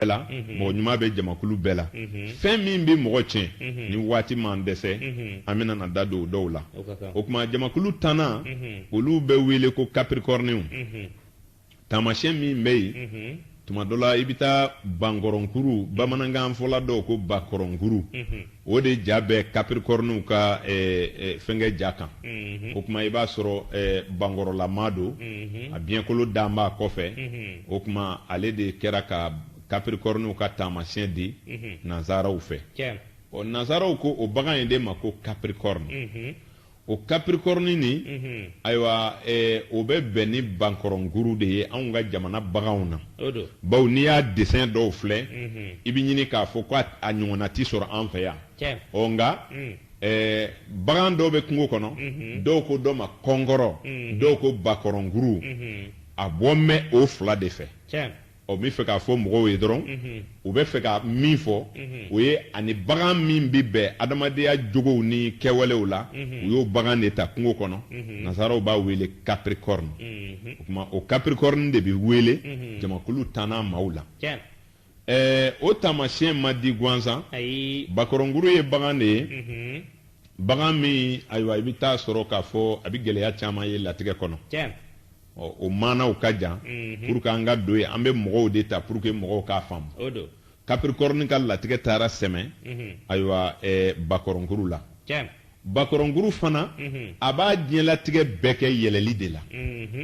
bɛɛ la mhm. mɔgɔ ɲuman bɛ jamakulu bɛɛ la mhm. fɛn min bɛ mɔgɔ tiɲɛ mhm. ni waati ma dɛsɛ an bɛna na da don o dɔw la o tuma jamakulu tannan olu bɛ wele ko kapirikɔriniw taamasiyɛn min bɛ yen tuma dɔ la i bɛ taa bankɔrɔnkuru bamanankan fɔla dɔw ko bakɔrɔnkuru o de ja bɛ kapirikɔriniw ka fɛnkɛ ja kan o tuma i b'a sɔrɔ bankɔrɔlama don a biɲɛkolo dan b'a kɔfɛ o tuma ale de kɛra ka kapirikɔriniw ka taamasiyɛn di nansaraw fɛ ɔ nansaraw ko o bagan in de ma ko capricorne o kapirikɔrini nin ayiwa o bɛ bɛn ni bakɔrɔnkuru de ye anw ka jamana baganw na bawo n'i y'a dessin dɔw filɛ i bɛ ɲini k'a fɔ ko a ɲɔgɔnna tɛ sɔrɔ an fɛ yan ɔ nka bagan dɔw bɛ kungo kɔnɔ dɔw ko dɔ ma kɔnkɔrɔ dɔw ko bakɔrɔnkuru an b'o mɛn o fila de fɛ ɔ n bɛ fɛ k'a fɔ mɔgɔw ye dɔrɔn u bɛ fɛ ka min fɔ o ye ani bagan min bɛ bɛn adamadenya jogow ni kɛwalew la u y'o bagan de ta kungo kɔnɔ nansaraw b'a wele capricorne o tuma o capricorne de bɛ wele jamakulu tannan maaw la ɛɛ o taamasiyɛn ma di gansan bakɔrɔnkuru ye bagan de ye bagan min ayiwa i bɛ t'a sɔrɔ k'a fɔ a bɛ gɛlɛya caman ye latigɛ kɔnɔ ɔ o maanaw ka jan mhm. pour que an ka don ye an bɛ mɔgɔw de ta pour que mɔgɔw k'a faamu o don capricorne ka latigɛ taara sɛmɛ mhm. ayiwa ɛɛ bakɔrɔnkuru la bakɔrɔnkuru fana mhm. a b'a diɲɛlatigɛ bɛɛ kɛ yɛlɛli de la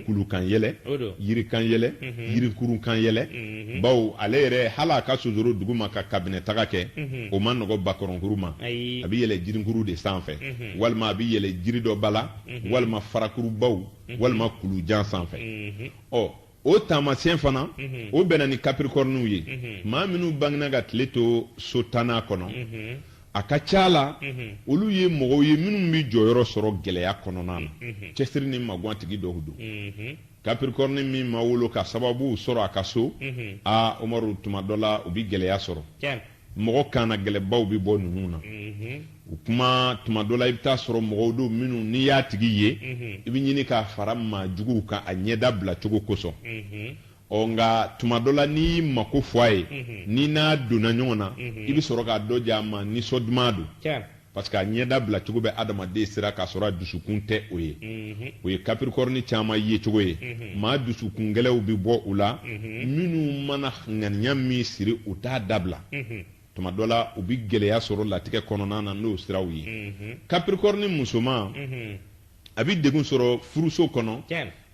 kulukan yɛlɛ yirikan yɛlɛ yirikurunkan yɛlɛ bawo ale yɛrɛ hali a ka sosoro duguma ka kabinɛ taga kɛ o ma nɔgɔ bakɔrɔnkuru ma a bɛ yɛlɛ jirinkuru de sanfɛ walima a bɛ yɛlɛ jiri dɔ bala walima farakurubaw walima kulujan sanfɛ ɔ o taamasiyɛn fana o bɛnna ni kapirikɔriniw ye maa minnu bangena ka tile to so tannan kɔnɔ a ka ca la olu ye mɔgɔw ye minnu bɛ jɔyɔrɔ sɔrɔ gɛlɛya kɔnɔna na cɛsiri ni magwantigi dɔw don kapirikɔrini min ma wolo ka sababu sɔrɔ a ka so aa umaru tuma dɔ la u bɛ gɛlɛya sɔrɔ mɔgɔ kannagɛlɛnbaw bɛ bɔ ninnu na mhm. o kuma tuma dɔ la i bɛ t'a sɔrɔ mɔgɔw don minnu n'i y'a tigi ye mhm. i bɛ ɲini k'a fara maa juguw kan a ɲɛda bila cogo kosɔn mhm. ɔ nka tuma dɔ la n'i y'i mako fɔ a ye n'i n'a donna ɲɔgɔn na i bɛ sɔrɔ k'a dɔn jaa maa nisɔnduman don parce que a ɲɛda bila cogo bɛ adamaden siran k'a sɔrɔ a dusukun tɛ o ye mhm. o ye kapirikɔrini caman yecogo ye mhm. maa dusukun gɛlɛnw bɛ bɔ u la mhm. minnu mana ŋaniya min siri u t'a dabila tuma dɔ la u bɛ gɛlɛya sɔrɔ latigɛ kɔnɔna na n'o siraw ye kapirikɔrini musoman a bɛ degun sɔrɔ furuso kɔnɔ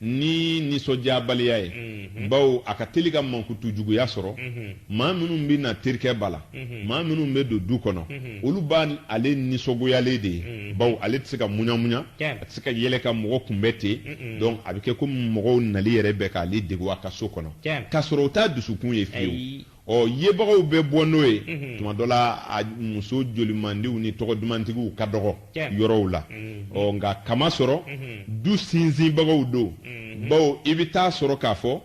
ni nisɔndiyabaliya ye mhm. bawo a ka teli ka mankutu juguya sɔrɔ mhm. maa minnu bɛ na terikɛ bara mhm. maa minnu bɛ don du kɔnɔ olu b'a ale nisɔngoyalen de ye bawo ale tɛ se ka muɲamuɲa a tɛ se ka yɛlɛ ka mɔgɔ kunbɛn ten donc a bɛ kɛ komi mɔgɔw nali yɛrɛ bɛ k'ale degun a ka so kɔnɔ k'a sɔrɔ o t'a dusukun ye fiyewu ɔ yebagaw bɛ bɔ n'o ye mhm. tuma dɔ la a muso jolimandiw ni tɔgɔ dumantigiw ka dɔgɔ yɔrɔw la mhm. ɔ nka k'a masɔrɔ mhm. du sinsinbagaw don bawo i bɛ t'a sɔrɔ k'a fɔ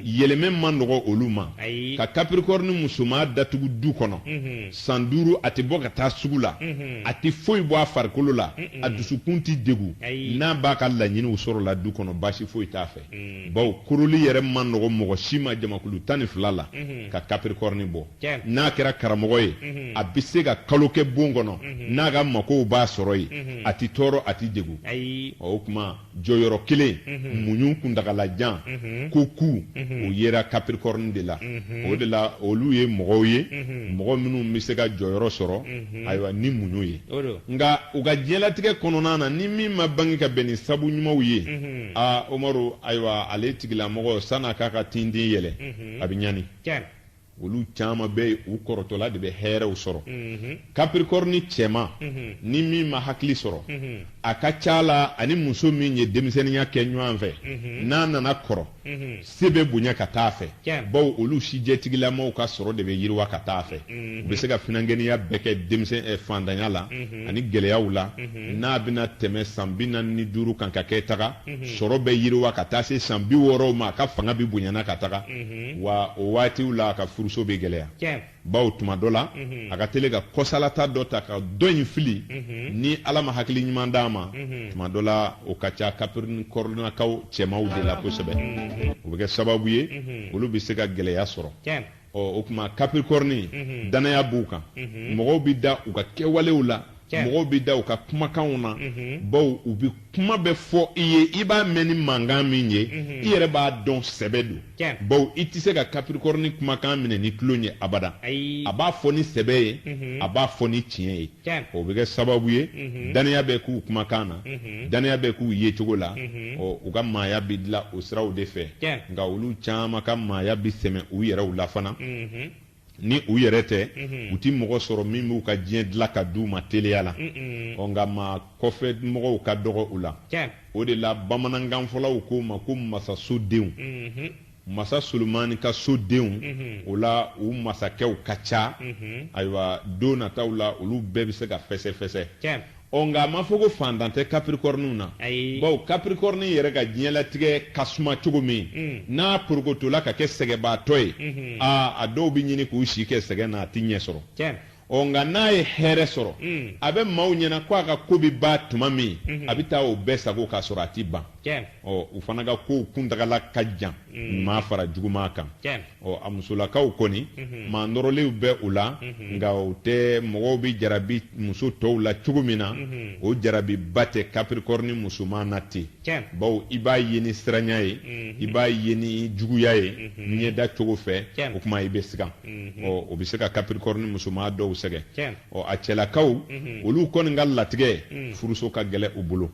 yɛlɛmɛ ma nɔgɔ olu ma ka kapirikɔrɔni musoman datugu du kɔnɔ san duuru a tɛ bɔ ka taa sugu la a tɛ foyi bɔ a farikolo la a dusukun tɛ degun n'a b'a ka laɲiniw sɔrɔ la du kɔnɔ baasi foyi t'a fɛ Mm. baw koroli yɛrɛ ma nɔgɔ mɔgɔ si ma jamakulu tan ni fila la mm-hmm. ka kapirikɔrɔni bɔ n'a kɛra karamɔgɔ ye mm-hmm. a bɛ se ka kalo kɛ bon kɔnɔ mm-hmm. n'a ka makow b'a sɔrɔ yen a tɛ tɔɔrɔ a tɛ degun o tuma jɔyɔrɔ kelen muɲu kuntagalajan ko ku o yera kapirikɔrɔni de la o de la olu ye mɔgɔw ye mɔgɔ minnu bɛ se ka jɔyɔrɔ sɔrɔ ayiwa ni muɲu ye nka u ka diɲɛlatigɛ kɔnɔna na ni min ma bange ka bɛn ni sabu ɲumanw ye mhm. aa umaru ayiwa ale tigilamɔgɔ san'a k'a ka tintin yɛlɛ mhm. a bɛ ɲani olu caman bɛ yen u kɔrɔtɔla de bɛ hɛrɛw sɔrɔ mhm. kapirikɔrni cɛman ni min ma hakili sɔrɔ a ka ca la a ni muso min ye denmisɛnninya kɛ ɲɔgɔn fɛ n'a nana kɔrɔ mhm. se bɛ bonya ka t'a fɛ baw olu sijɛtigilamaw ka sɔrɔ de bɛ yiriwa ka t'a fɛ mhm. u bɛ se ka finankɛniya bɛɛ kɛ denmisɛn eh, faantanya la mhm. ani gɛlɛyaw la n'a bɛna tɛmɛ san bi naani ni duuru kan ka kɛ taga sɔrɔ bɛ yiriwa ka taa se san bi wɔɔrɔw ma a ka fanga bɛ bonyana ka taga wa o waatiw la a ka furuso bɛ gɛlɛya baw tuma dɔ la mhm. a ka teli ka kɔsalata dɔ ta ka dɔ in fili mhm. ni ala ma hakili ɲuman d'a ma mhm. tuma dɔ la o ka ca kapirikɔrɔnakaw cɛmaw de la kosɛbɛ o bɛ kɛ sababu ye olu bɛ se ka gɛlɛya sɔrɔ ɔ o kuma kapirikɔrɔni dannaya b'u kan mɔgɔw bɛ da u ka kɛwalew la mɔgɔw bɛ da u ka kumakanw na baw u bɛ kuma bɛɛ fɔ i ye i b'a mɛn ni mankan min ye i yɛrɛ b'a dɔn sɛbɛ don baw i tɛ se ka kapirikɔrɔni kumakan minɛ ni tulon ye abada a b'a fɔ ni sɛbɛ ye mhm. a b'a fɔ ni tiɲɛ ye o bɛ kɛ sababu ye mhm. dannaya bɛ k'u kumakan na mhm. dannaya bɛ k'u yecogo la ɔ u ka maaya bɛ dilan o siraw de fɛ nka olu caman ka maaya bɛ sɛmɛ u yɛrɛw la fana ni u yɛrɛ tɛ u tɛ mɔgɔ sɔrɔ min b'u ka diɲɛ dilan ka di u ma teliya la ɔ nka maa kɔfɛ mɔgɔw ka dɔgɔ u la o de la bamanankan fɔlaw k'o ma ko masasodenw masa solomani ka sodenw o la u masakɛw ka ca ayiwa don nataw la olu bɛɛ bɛ se ka fɛsɛfɛsɛ ɔ nka a ma fɔ ko fantan tɛ kapirikɔriniw na bawo kapirikɔrini yɛrɛ ka diɲɛlatigɛ ka suma cogo min mm. n'a porokotola ka kɛ sɛgɛnbaatɔ ye mm-hmm. a dɔw bɛ ɲini k'u si kɛ sɛgɛn na a tɛ ɲɛ sɔrɔ ɔ nka n'a ye hɛrɛ sɔrɔ mm. a bɛ maaw ɲɛna ko a ka ko bɛ ban tuma min mm-hmm. a bɛ taa o bɛɛ sagon k'a sɔrɔ a tɛ ban ɔ u fana ka kow kuntagala ka jan ɲuman fara juguman kan ɔ a musolakaw kɔni mhm. maa nɔrɔlenw bɛ u la mhm. nka o tɛ mɔgɔw bɛ jarabi muso tɔw la cogo min na mhm. o jarabiba tɛ kapirikɔrɔni musoman na ten bawo i b'a ye ni siranya ye i b'a ye ni juguya ye ɲɛda cogo fɛ o tuma i bɛ sigan ɔ o bɛ se ka kapirikɔrɔni musoman dɔw sɛgɛn ɔ a cɛlakaw olu kɔni ka latigɛ furuso ka gɛlɛ u bolo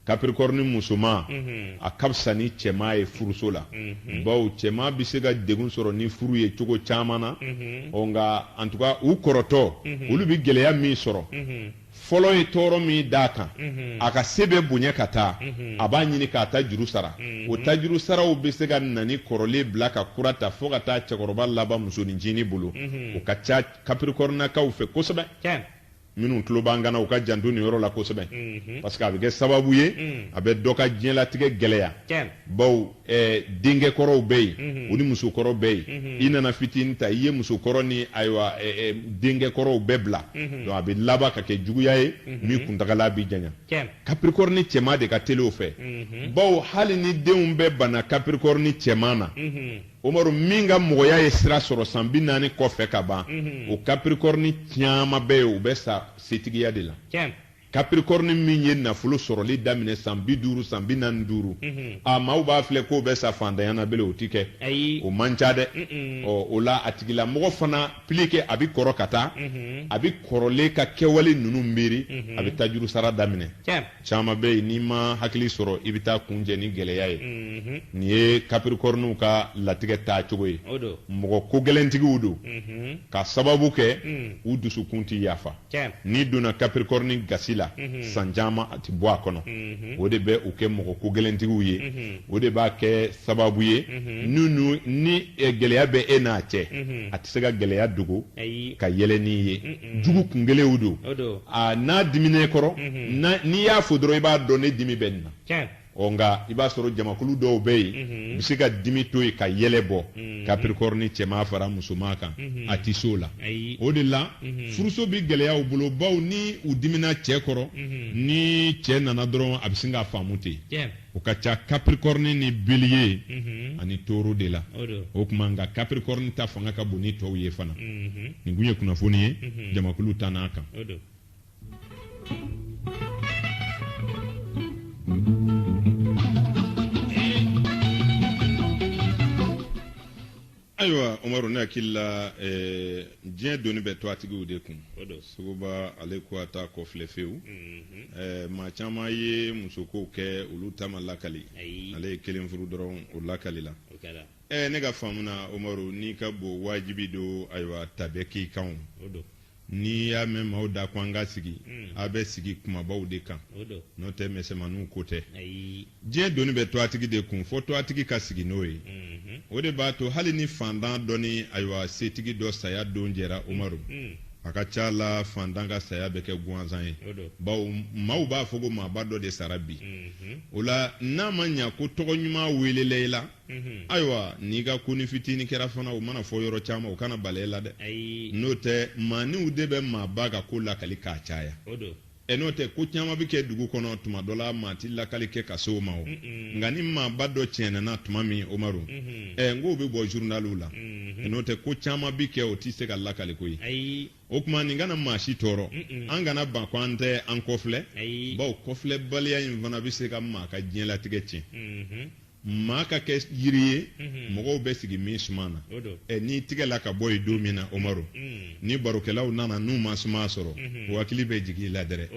kapirikɔrɔni musoman mhm. a ka fisa ni cɛman ye furuso la mhm. bawo cɛman bɛ se ka degun sɔrɔ ni furu ye cogo caman na mhm. ɔ nka en tout cas u kɔrɔtɔ olu bɛ gɛlɛya min sɔrɔ fɔlɔ ye tɔɔrɔ min d'a kan a ka se bɛ bonya ka taa a b'a ɲini k'a ta juru sara o ta juru saraw bɛ se ka na ni kɔrɔlen bila ka kura ta fo ka taa cɛkɔrɔba laban musoninncinin bolo o ka ca kapirikɔrɔnakaw fɛ kosɛbɛ minnu tulo b'an kan na u ka janto nin yɔrɔ la kosɛbɛ mhm. parce que a bɛ kɛ sababu ye mhm. a bɛ dɔ ka diɲɛlatigɛ gɛlɛya baw eh, denkɛ kɔrɔw bɛ yen mhm. u ni musokɔrɔ bɛ yen i nana fitinin ta i ye musokɔrɔ ni ayiwa eh, eh, denkɛ kɔrɔw bɛɛ bila donc a bɛ laban ka kɛ juguya ye min kuntagala bɛ janya kapirikɔrɔni cɛman de ka teli o fɛ baw hali ni denw bɛ ban kapirikɔrɔni cɛman na umaru min ka mɔgɔya ye sira sɔrɔ san bi naani kɔfɛ ka ban mhm. o kapirikɔrɔni caman bɛ yen u bɛ sa setigiya de la kapirikɔrɔni min ye nafolo sɔrɔli daminɛ san bi duuru san bi naani duuru mhm. a maaw b'a filɛ k'o bɛ sa fantanya na bele o ti kɛ o man ca dɛ ɔ o la a tigilamɔgɔ fana plus que a bi kɔrɔ ka taa mhm. a bi kɔrɔlen ka kɛwale ninnu miiri a bi tajuru sara daminɛ caman bɛ yen n'i ma hakili sɔrɔ i bɛ taa kuncɛ ni gɛlɛya ye mhm. nin ye kapirikɔrɔniw ka latigɛ taa cogo ye mɔgɔ ko gɛlɛntigiw don mhm. ka sababu kɛ mm. u dusukun tɛ yafa n'i donna kapirikɔrɔni gasi la mhm. san caman a tɛ bɔ a kɔnɔ o de bɛ u kɛ mɔgɔ ko gɛlɛntigiw ye o de b'a kɛ sababu ye ni eh, gɛlɛya bɛ e n'a cɛ a tɛ se ka gɛlɛya dogo ka yɛlɛ n'i ye jugu kunkelenw don n'a dimin'e kɔrɔ n'i y'a fo dɔrɔn i b'a dɔn ne dimi bɛ nin na ɔ nka i b'a sɔrɔ jamakulu dɔw bɛ yen u bɛ se ka dimi to yen ka yɛlɛ bɔ kapirikɔrɔni cɛman fara musoman kan a tɛ se o la o de la furuso bɛ gɛlɛya u bolo baw ni u dimina cɛ kɔrɔ ni cɛ nana dɔrɔn a bɛ sin k'a faamu ten o ka ca kapirikɔrɔni ni biliye mhm. ani toro de la o tuma nka kapirikɔrɔni ta fanga ka bon ni tɔw ye fana mhm. nin kun ye kunnafoni ye mhm. jamakulu tannan kan ayiwa umaru ne hakili la eh, diɲɛ doni bɛ toatigiw de kun sogoba ale ko a t'a kɔfilɛ fewu mhm. eh, maa caman ye musokow kɛ olu ta ma lakali ale ye kelen furu dɔrɔn o lakalila eh, ne ka faamu na umaru n'i ka bon wajibi don ayiwa ta bɛ k'i kan n'i y'a mɛn maaw da ko an ka sigi hmm. a bɛ sigi kumabaw de kan n'o tɛ mɛsɛmaniw ko tɛ diɲɛ doni bɛ toatigi de kun fo toatigi ka sigi n'o ye mhm. o de b'a to hali ni fantan dɔ ni ayiwa setigi dɔ saya don jɛra hmm. umaru hmm. a ka ca la fantan ka saya bɛ kɛ gansan ye bawo maaw b'a fɔ ko maaba dɔ de sara bi mhm. o la n'a ma ɲa ko tɔgɔ ɲuman weelela i la Mhm. ayiwa n'i ka koni fitini kɛra fana o mana fɔ yɔrɔ caman o kana bala i la dɛ n'o tɛ maaniw de bɛ maaba ka ko lakali k'a caya ɛ n'o tɛ ko caman bɛ kɛ dugu kɔnɔ tuma dɔ la maa tɛ lakali kɛ ka se o ma o nka ni maaba dɔ tiɲɛna tuma min omaru mhm. ɛ n k'o bɛ bɔ zurunaluw la mhm. n'o tɛ ko caman bɛ kɛ o tɛ se ka lakali ko ye o tuma nin kana maa si tɔɔrɔ an kana ban ko an tɛ an kɔfilɛ bawo kɔfilɛbaliya in fana bɛ se ka maa ka diɲɛlatigɛ tiɲɛ maa ka kɛ yiri ye mhm. mɔgɔw bɛ sigi min suma na ɛ n'i tigɛla ka bɔ yen don min na omaru mhm. ni barokɛlaw nana n'u ma suma sɔrɔ mhm. o hakili bɛ jigin i la dɛrɛ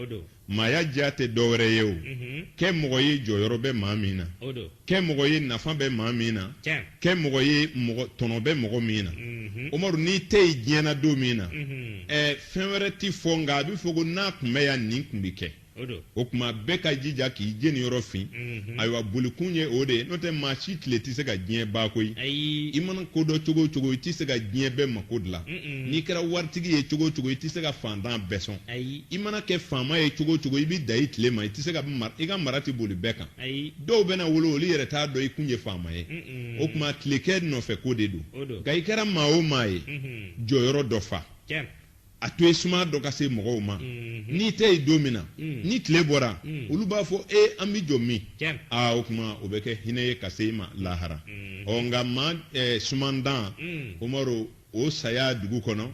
maaya diya tɛ dɔ wɛrɛ ye o kɛ mɔgɔ ye jɔyɔrɔ bɛ maa min na kɛ mɔgɔ ye nafa bɛ maa min na kɛ mɔgɔ ye tɔnɔ bɛ mɔgɔ min na omaru n'i tɛ yen diɲɛ na don min na ɛ fɛn wɛrɛ tɛ fɔ nka a bɛ fɔ ko n'a tun bɛ yan nin tun bɛ kɛ o tuma bɛɛ ka jija k'i jeniyɔrɔ fin mhm. ayiwa bolikun ye o de ye n'o tɛ maa si tile tɛ se ka diɲɛ ban koyi i mana ko dɔn cogo o cogo i tɛ se ka diɲɛ bɛɛ mako dilan n'i kɛra waritigi ye cogo o cogo i tɛ se ka fantan bɛɛ sɔn i mana kɛ faama ye cogo o cogo i bɛ dan i tile ma i tɛ se ka i ka mara tɛ boli bɛɛ kan dɔw bɛna wolo olu yɛrɛ t'a dɔn i kun ye faama ye o tuma tilekɛ nɔfɛ ko de don nka i kɛra maa o maa ye mhm. jɔyɔrɔ dɔ fa a to ye suma dɔ ka se mɔgɔw ma mhm. n'i tɛ yen don min na mhm. ni tile bɔra mhm. olu b'a fɔ e an bɛ jɔ min aa o tuma o bɛ kɛ hinɛ ye ka se i ma lahara ɔ nka maa sumandan umaru o saya dugu kɔnɔ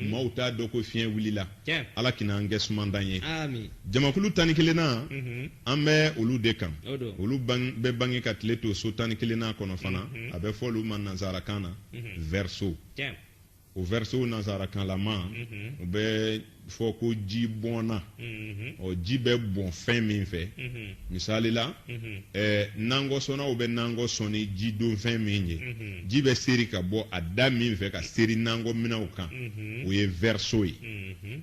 maaw t'a dɔn ko fiɲɛ wulila ala kana an kɛ sumandan ye jamakulu tan ni kelennan an bɛ olu de kan olu bɛ bange ka tile to so tan ni kelennan kɔnɔ fana a bɛ fɔ olu ma nansarakan na vɛriso o verseau nansarakanlama o bɛ fɔ ko ji bɔnna ɔ ji bɛ bɔn fɛn min fɛ misali la nankɔ sɔnnaw bɛ nankɔ sɔn ni ji don fɛn min ye ji bɛ seri ka bɔ a da min fɛ ka seri nankɔ minɛnw kan o ye verseau ye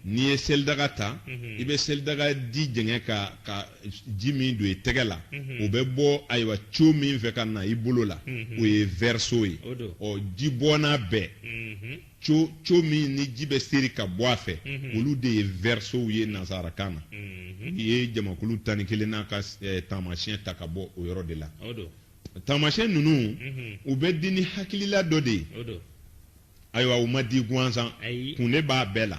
n'i ye selidaga ta i bɛ selidaga da jɛngɛ ka ji min don i tɛgɛ la o bɛ bɔ ayiwa co min fɛ ka na i bolo la o ye verseau ye ɔ ji bɔnna bɛɛ co min ni ji bɛ seri ka bɔ a fɛ olu de ye verseau ye nansarakan na i ye jamakulu tan ni kelennan ka taamasiyɛn ta ka bɔ o yɔrɔ de la taamasiyɛn ninnu u bɛ di ni hakilila dɔ de ye ayiwa u ma di gansan kun de b'a bɛɛ la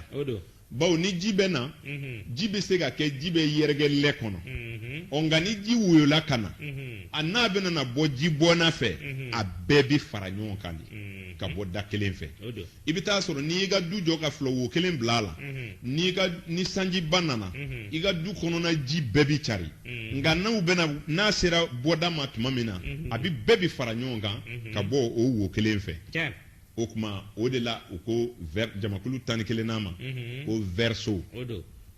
bawo ni ji bɛ na mhm. ji bɛ se ka kɛ ji bɛ yɛrɛkɛ lɛ kɔnɔ mhm. ɔ nka ni ji woyola ka na mhm. a n'a bɛna na bɔ ji bɔnna fɛ a bɛɛ bɛ fara ɲɔgɔn kan de ka bɔ da kelen fɛ i bɛ t'a sɔrɔ n'i y'i ka du jɔ ka filɛ wo kelen bila a la ni ni sanjiba nana i ka du kɔnɔna ji bɛɛ bɛ cari nka n'u bɛna n'a sera bɔda ma tuma min na a bɛ bɛɛ bɛ fara ɲɔgɔn kan ka bɔ o wo kelen fɛ Tiɲɛ. O kuma o de la u ko ver jamakulu tan ni kelennan ma. Unhun. Ko verseau.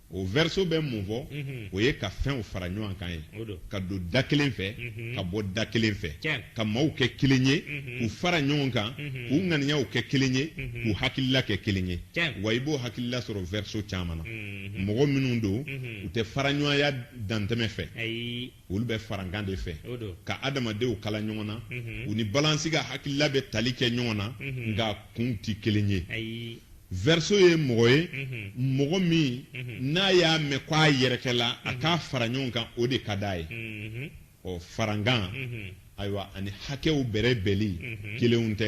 O verseau bɛ mun fɔ. Unhun. O ye ka fɛnw fara ɲɔgɔn kan ye. Ka don da kelen fɛ. Unhun. Ka bɔ da kelen fɛ. Ka maaw kɛ kelen ye. Unhun. K'u fara ɲɔgɔn kan. Unhun. K'u ŋaniyaw kɛ kelen ye. Unhun. K'u hakilila kɛ kelen ye. Wa i b'o hakilila sɔrɔ verseau caman na. Unhun. Mɔgɔ minnu don. Unhun. U tɛ faraɲɔgɔnya dantɛmɛ fɛ. olu bɛ farankan de fɛ ka adamadenw kala ɲɔgɔn na mhm. u ni balansi ka hakilila bɛ tali kɛ ɲɔgɔn na mhm. nka kun tɛ kelen ye verseau ye mɔgɔ ye mhm. mɔgɔ min n'a y'a mɛn ko a yɛrɛkɛla a k'a fara ɲɔgɔn kan o de ka d'a ye ɔ farankan ayiwa ani hakɛw bɛrɛbɛnni mhm. kelen tɛ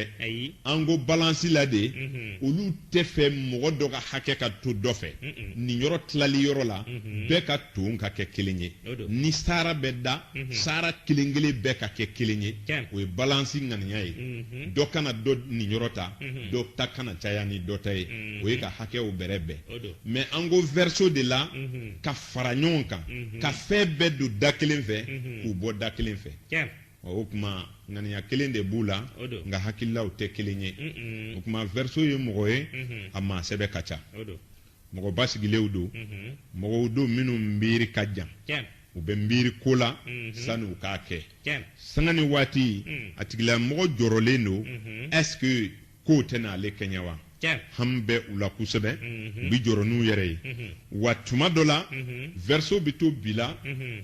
an ko balansi la de mhm. olu t'a fɛ mɔgɔ dɔ ka hakɛ ka to dɔ fɛ niyɔrɔ tilali yɔrɔ la mhm. bɛɛ ka ton ka kɛ kelen ye ni sara bɛ da sara kelen kelen bɛɛ ka kɛ kelen ye o ye balansi ŋaniya ye dɔ kana dɔ niyɔrɔ ta dɔ ta kana caya ni dɔ ta ye o ye ka hakɛw bɛrɛbɛn mais an ko verseau de la ka fara ɲɔgɔn kan mhm. ka fɛn bɛɛ don da kelen fɛ mhm. k'u bɔ da kelen fɛ o kuma ŋaniya kelen de b'u la nka hakililaw tɛ kelen ye o kuma verseau ye mɔgɔ ye mhm. a maa sɛbɛ ka ca mɔgɔ basigilenw don mɔgɔw don minnu miiri ka jan u bɛ miiri ko la sani u k'a kɛ sanga ni waati a tigilamɔgɔ jɔrɔlen don est ce que kow tɛna ale kɛɲɛ wa hami bɛ u la kosɛbɛ mhm. u bɛ jɔrɔ n'u yɛrɛ ye mhm. wa tuma dɔ la mhm. verseau bɛ to bi la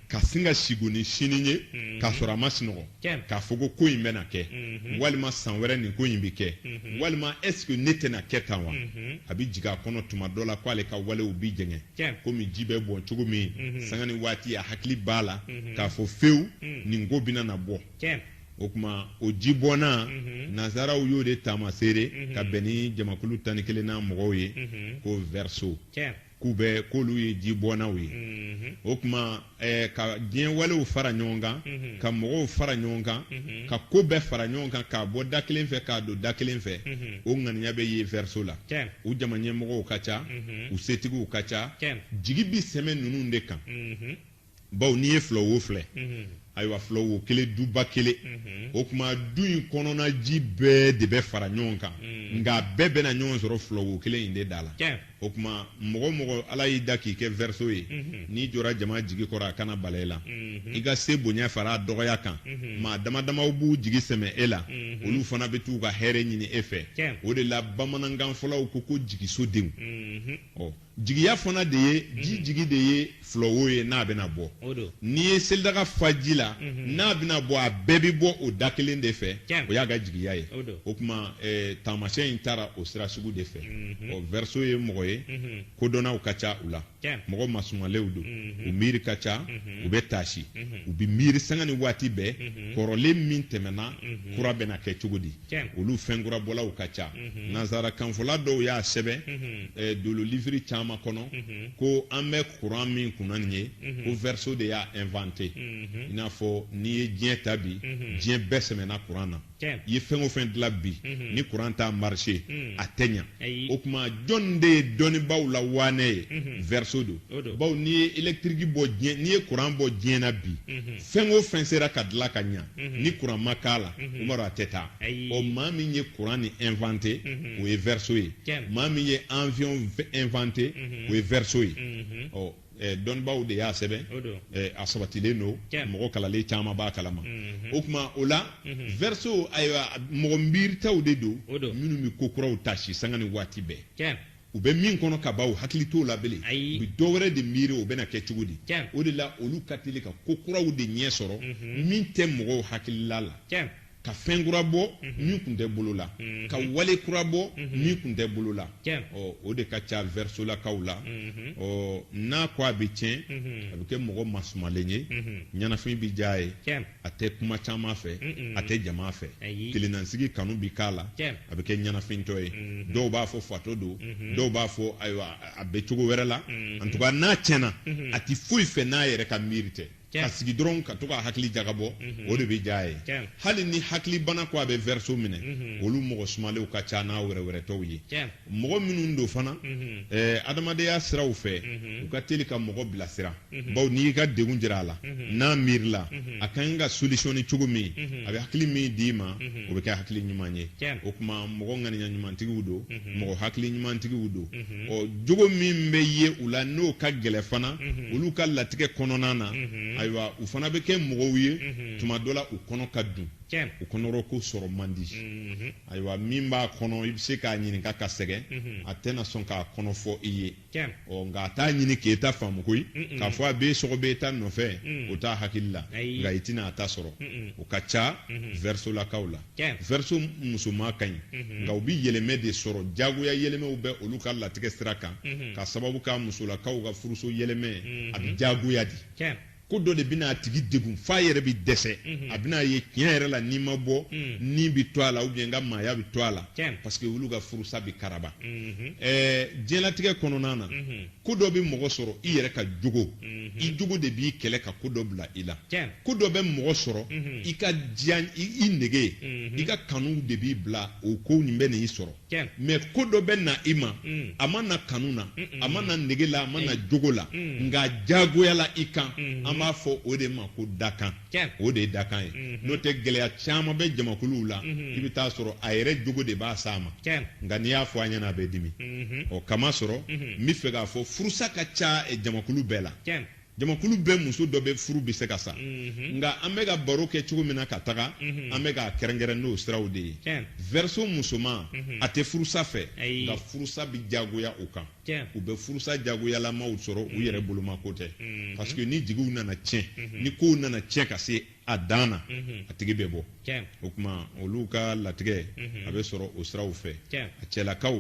ka si ka sigo ni sini ye k'a sɔrɔ a ma sinɔgɔ k'a fɔ ko ko in bɛna kɛ walima san wɛrɛ nin ko in bɛ kɛ walima est ce que ne tɛna kɛ tan wa a bɛ jigin a kɔnɔ tuma dɔ la k'ale ka walew bɛ jɛngɛ komi ji bɛ bɔn cogo min sanga ni waati a hakili b'a la k'a fɔ fewu nin ko bɛna na bɔ o tuma o ji bɔnna mhm. nansaraw y'o de taamaseere mhm. ka bɛn ni jamakulu tan ni kelenna mɔgɔw ye mhm. ko vɛriso k'u bɛ k'olu ye ji bɔnnaw ye o tuma eh, ka diɲɛ walew fara ɲɔgɔn kan ka mɔgɔw fara ɲɔgɔn kan ka ko bɛɛ fara ɲɔgɔn kan k'a bɔ da kelen fɛ k'a don da kelen fɛ o ŋaniya bɛ ye vɛriso la u jama ɲɛmɔgɔw ka ca u setigiw ka ca jigi bi sɛmɛ ninnu de kan bawo n'i ye fulawo filɛ mhm. ayiwa fulawo kelen duba kelen mhm. o tuma du in kɔnɔna ji bɛɛ de bɛ fara ɲɔgɔn kan mhm. nka bɛɛ bɛna ɲɔgɔn sɔrɔ fulawo kelen in de da la o tuma mɔgɔ o mɔgɔ ala y'i da k'i kɛ vɛriso ye n'i jɔra jama jigi kɔrɔ a kana bala i la i ka se bonya fara a dɔgɔya kan maa dama damaw b'u jigi sɛmɛ e la olu fana bɛ t'u ka hɛrɛ ɲini e fɛ o de la bamanankan fɔlaw ko ko jigisodenw jigiya fana de ye mhm. ji jigi de ye fulawo ye n'a bɛna bɔ n'i ye selidaga fa ji la mhm. n'a bɛna bɔ a bɛɛ bɛ bɔ o da kelen de fɛ o y'a ka jigiya ye o tuma eh, taamasiyɛn in taara o sira sugu de fɛ mhm. ɔ verseau ye mɔgɔ ye kodɔnnaw ka ca u la mɔgɔ masumalenw don u miiri ka ca u bɛ taasi u bɛ miiri sanga ni waati bɛɛ kɔrɔlen min tɛmɛna kura bɛna kɛ cogo di olu fɛnkurabɔlaw ka ca mhm. nansarakanfɔla dɔw y'a sɛbɛn mhm. eh, dolo liviri caman kɔnɔ mhm. ko an bɛ kuran min kunna nin ye ko verseau de y'a inventé i n'a fɔ n'i ye diɲɛ ta bi diɲɛ bɛɛ sɛmɛna kuran na i ye fɛn o fɛn dilan bi ni kuran t'a marché a tɛ ɲa o tuma jɔn de ye dɔnnibaaw la waanɛ ye verseau don bawo n'i ye électrique bɔ diɲɛ n'i ye kuran bɔ diɲɛ na bi fɛn o fɛn sera ka dilan ka ɲa mhm. ni kuran ma k'a la mhm. o baara a tɛ taa ɔ maa min ye kuran nin inventé mhm. o ye verseau ye maa min ye avion inventé o ye verseau ye ɔ eh, dɔnnibaaw de y'a sɛbɛn eh, a sabatilen don mɔgɔ kalalen caman b'a kalama o tuma o la verseau ayiwa mɔgɔ miiritaw de don minnu bɛ ko kuraw taasi sanga ni waati bɛɛ u bɛ min kɔnɔ ka ban u hakili t'o la belen u bɛ dɔ wɛrɛ de miiri o bɛna kɛ cogo di o de la olu ka teli ka ko kuraw de ɲɛ sɔrɔ mhm. min tɛ mɔgɔw hakilila la ka fɛn kura bɔ mhm. min tun tɛ bolo la mhm. ka wale kura bɔ min tun tɛ bolo la ɔ o de ka ca vɛrisolakaw la ɔ n'a ko a bɛ tiɲɛ a bɛ kɛ mɔgɔ masumalen ye ɲɛnafin bɛ diy'a ye a tɛ kuma caman fɛ a tɛ jama fɛ kelennansigi kanu bi k'a la a bɛ kɛ ɲɛnafintɔ ye mhm. dɔw b'a fɔ fato don mhm. dɔw b'a fɔ ayiwa a bɛ cogo wɛrɛ la mhm. en tout cas n'a tiɲɛna a tɛ foyi fɛ n'a yɛrɛ ka miiri tɛ ka sigi dɔrɔn ka to ka hakili jagabɔ o de bɛ diya ye hali ni hakili bana ko a bɛ vɛriso minɛ olu mɔgɔ sumalenw ka ca n'a wɛrɛwɛrɛtɔw ye mɔgɔ minnu don fana adamadenya siraw fɛ u ka teli ka mɔgɔ bilasira bawo n'i y'i ka degun jira a la n'a miirila a ka kan ka solution ɲini cogo min a bɛ hakili min d'i ma o bɛ kɛ hakili ɲuman ye o tuma mɔgɔ ŋaniya ɲumantigiw don mɔgɔ hakili ɲumantigiw don ɔ jogo min bɛ ye u la n'o ka gɛlɛ fana olu ka latigɛ kɔnɔna na ayiwa u fana bɛ kɛ mɔgɔw ye tuma dɔ la u kɔnɔ ka dun u kɔnɔrɔ ko sɔrɔ man di ayiwa min b'a kɔnɔ i bɛ se k'a ɲininka ka sɛgɛn a tɛna sɔn k'a kɔnɔ fɔ i ye ɔ nka a t'a ɲini k'e ta faamu koyi k'a fɔ a b'e sɔgɔbɛ e ta nɔfɛ mm. o t'a hakili la nka i tɛna a ta sɔrɔ o ka ca mm-hmm. vɛrisolakaw la vɛriso musoman ka ɲi mm-hmm. nka u bɛ yɛlɛmɛ de sɔrɔ jagoya yɛlɛmɛw bɛ olu ka latigɛ sira kan mm-hmm. ka sababu k'a musolakaw ka furuso yɛlɛmɛ a bɛ jagoya di ko dɔ de bɛna a tigi degun f'a yɛrɛ bɛ dɛsɛ a bɛna a ye tiɲɛ yɛrɛ la n'i ma bɔ ni bɛ to a la ou bien n ka maaya bɛ to a la parce que olu ka furusa bɛ karaba ɛɛ diɲɛlatigɛ kɔnɔna na ko dɔ bɛ mɔgɔ sɔrɔ i yɛrɛ ka jogo i jogo de b'i kɛlɛ ka ko dɔ bila i la ko dɔ bɛ mɔgɔ sɔrɔ i ka diya i nege i ka kanu de b'i bila o kow nin bɛ n'i sɔrɔ mais ko dɔ bɛ na i ma mm. a ma na kanu na a ma na nege la a ma na jogo la mm. nka jagoyala i kan mm-hmm. an b'a fɔ o de ma ko dakan o de ye dakan ye mm-hmm. n'o tɛ gɛlɛya caman bɛ jamakuluw la mm-hmm. i bɛ t'a sɔrɔ a yɛrɛ jogo de b'a s'a ma nka n'i y'a fɔ a ɲɛna a bɛ dimi ɔ k'a masɔrɔ n bɛ fɛ k'a fɔ furusa ka ca eh, jamakulu bɛɛ la jamakulu bɛɛ muso dɔ bɛ furu bɛ se ka sa mhm. nka an bɛ ka baro kɛ cogo min na ka taga mhm. an bɛ k'a kɛrɛnkɛrɛn n'o siraw de ye verso musoman mhm. a tɛ furusa fɛ nka furusa bɛ jagoya u kan u bɛ furusa jagoyalamaw sɔrɔ u yɛrɛ bolomako tɛ parce que ni jigiw nana tiɲɛ ni kow nana tiɲɛ ka se a dan na a tigi bɛ bɔ o tuma olu ka latigɛ a bɛ sɔrɔ o siraw fɛ a cɛlakaw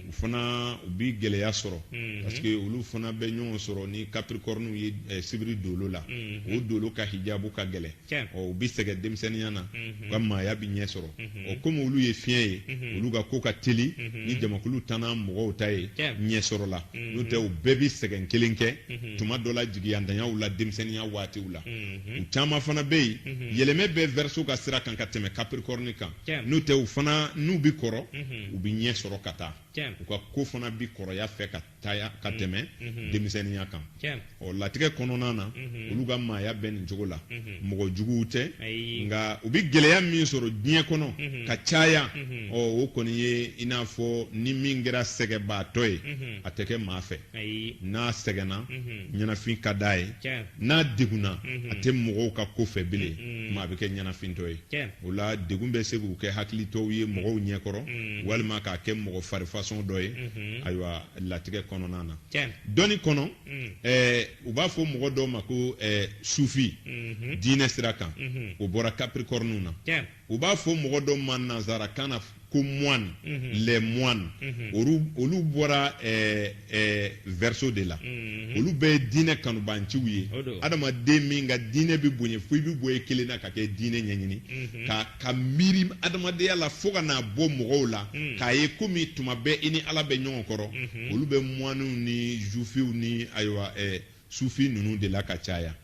u fana u bɛ gɛlɛya sɔrɔ parce que olu fana bɛ ɲɔgɔn sɔrɔ ni kapirikɔrniw ye sibiri dolo la o dolo ka hijabu ka gɛlɛn ɔ u bɛ sɛgɛn denmisɛnninya na u ka maaya bɛ ɲɛ sɔrɔ o komi olu ye fiɲɛ ye olu ka ko ka teli ni jamakulu tannan mɔgɔw ta ye ɲɛ sɔrɔ la n'o tɛ u bɛɛ bɛ sɛgɛn kelen kɛ tuma dɔ la jigiyantanyaw la denmisɛnninya waatiw la u caman fana bɛ yen yɛlɛmɛ bɛ verseau ka sira kan ka tɛmɛ capricorne kan n'o tɛ u fana n'u bɛ kɔrɔ u bɛ ɲɛ sɔrɔ ka taa u ka ko fana bɛ kɔrɔya fɛ ka tɛmɛ denmisɛnninya kan ɔ latigɛ kɔnɔna na olu ka maaya bɛ nin cogo la mɔgɔ juguw tɛ nka u bɛ gɛlɛya min sɔrɔ diɲɛ kɔnɔ ka caya ɔ o kɔni ye i n'a fɔ ni min kɛra sɛgɛbaatɔ ye a tɛ kɛ maa fɛ n'a sɛgɛnna ɲɛnafin ka d'a ye n'a degunna a tɛ mɔgɔw ka ko fɛ bilen maa bɛ kɛ ɲɛnafintɔ ye o la degun bɛ se k'u kɛ hakilitɔw ye mɔgɔw ɲɛkɔrɔ walima k'a kɛ mɔgɔ farifasɔn dɔ ye ayiwa latigɛ kɔnɔna na dɔnni kɔnɔ u b'a fɔ mɔgɔ dɔw ma ko sufi diinɛ sira kan o bɔra capricornew na u b'a fɔ mɔgɔ dɔ ma nansarakan na ko moine mhm. les moines mhm. olu olu bɔra eh, eh, verseau de la mhm. olu bɛɛ ye diinɛ kanubanciw ye adamaden min ka diinɛ bɛ bonya fo i bɛ bɔ i kelen na ka kɛ diinɛ ɲɛɲini ka ka miiri adamadenya la fo ka n'a bɔ mɔgɔw la k'a ye komi tuma bɛɛ i ni ala bɛ ɲɔgɔn kɔrɔ olu bɛ moinew ni juifw ni ayiwa eh, sufi ninnu de la ka caya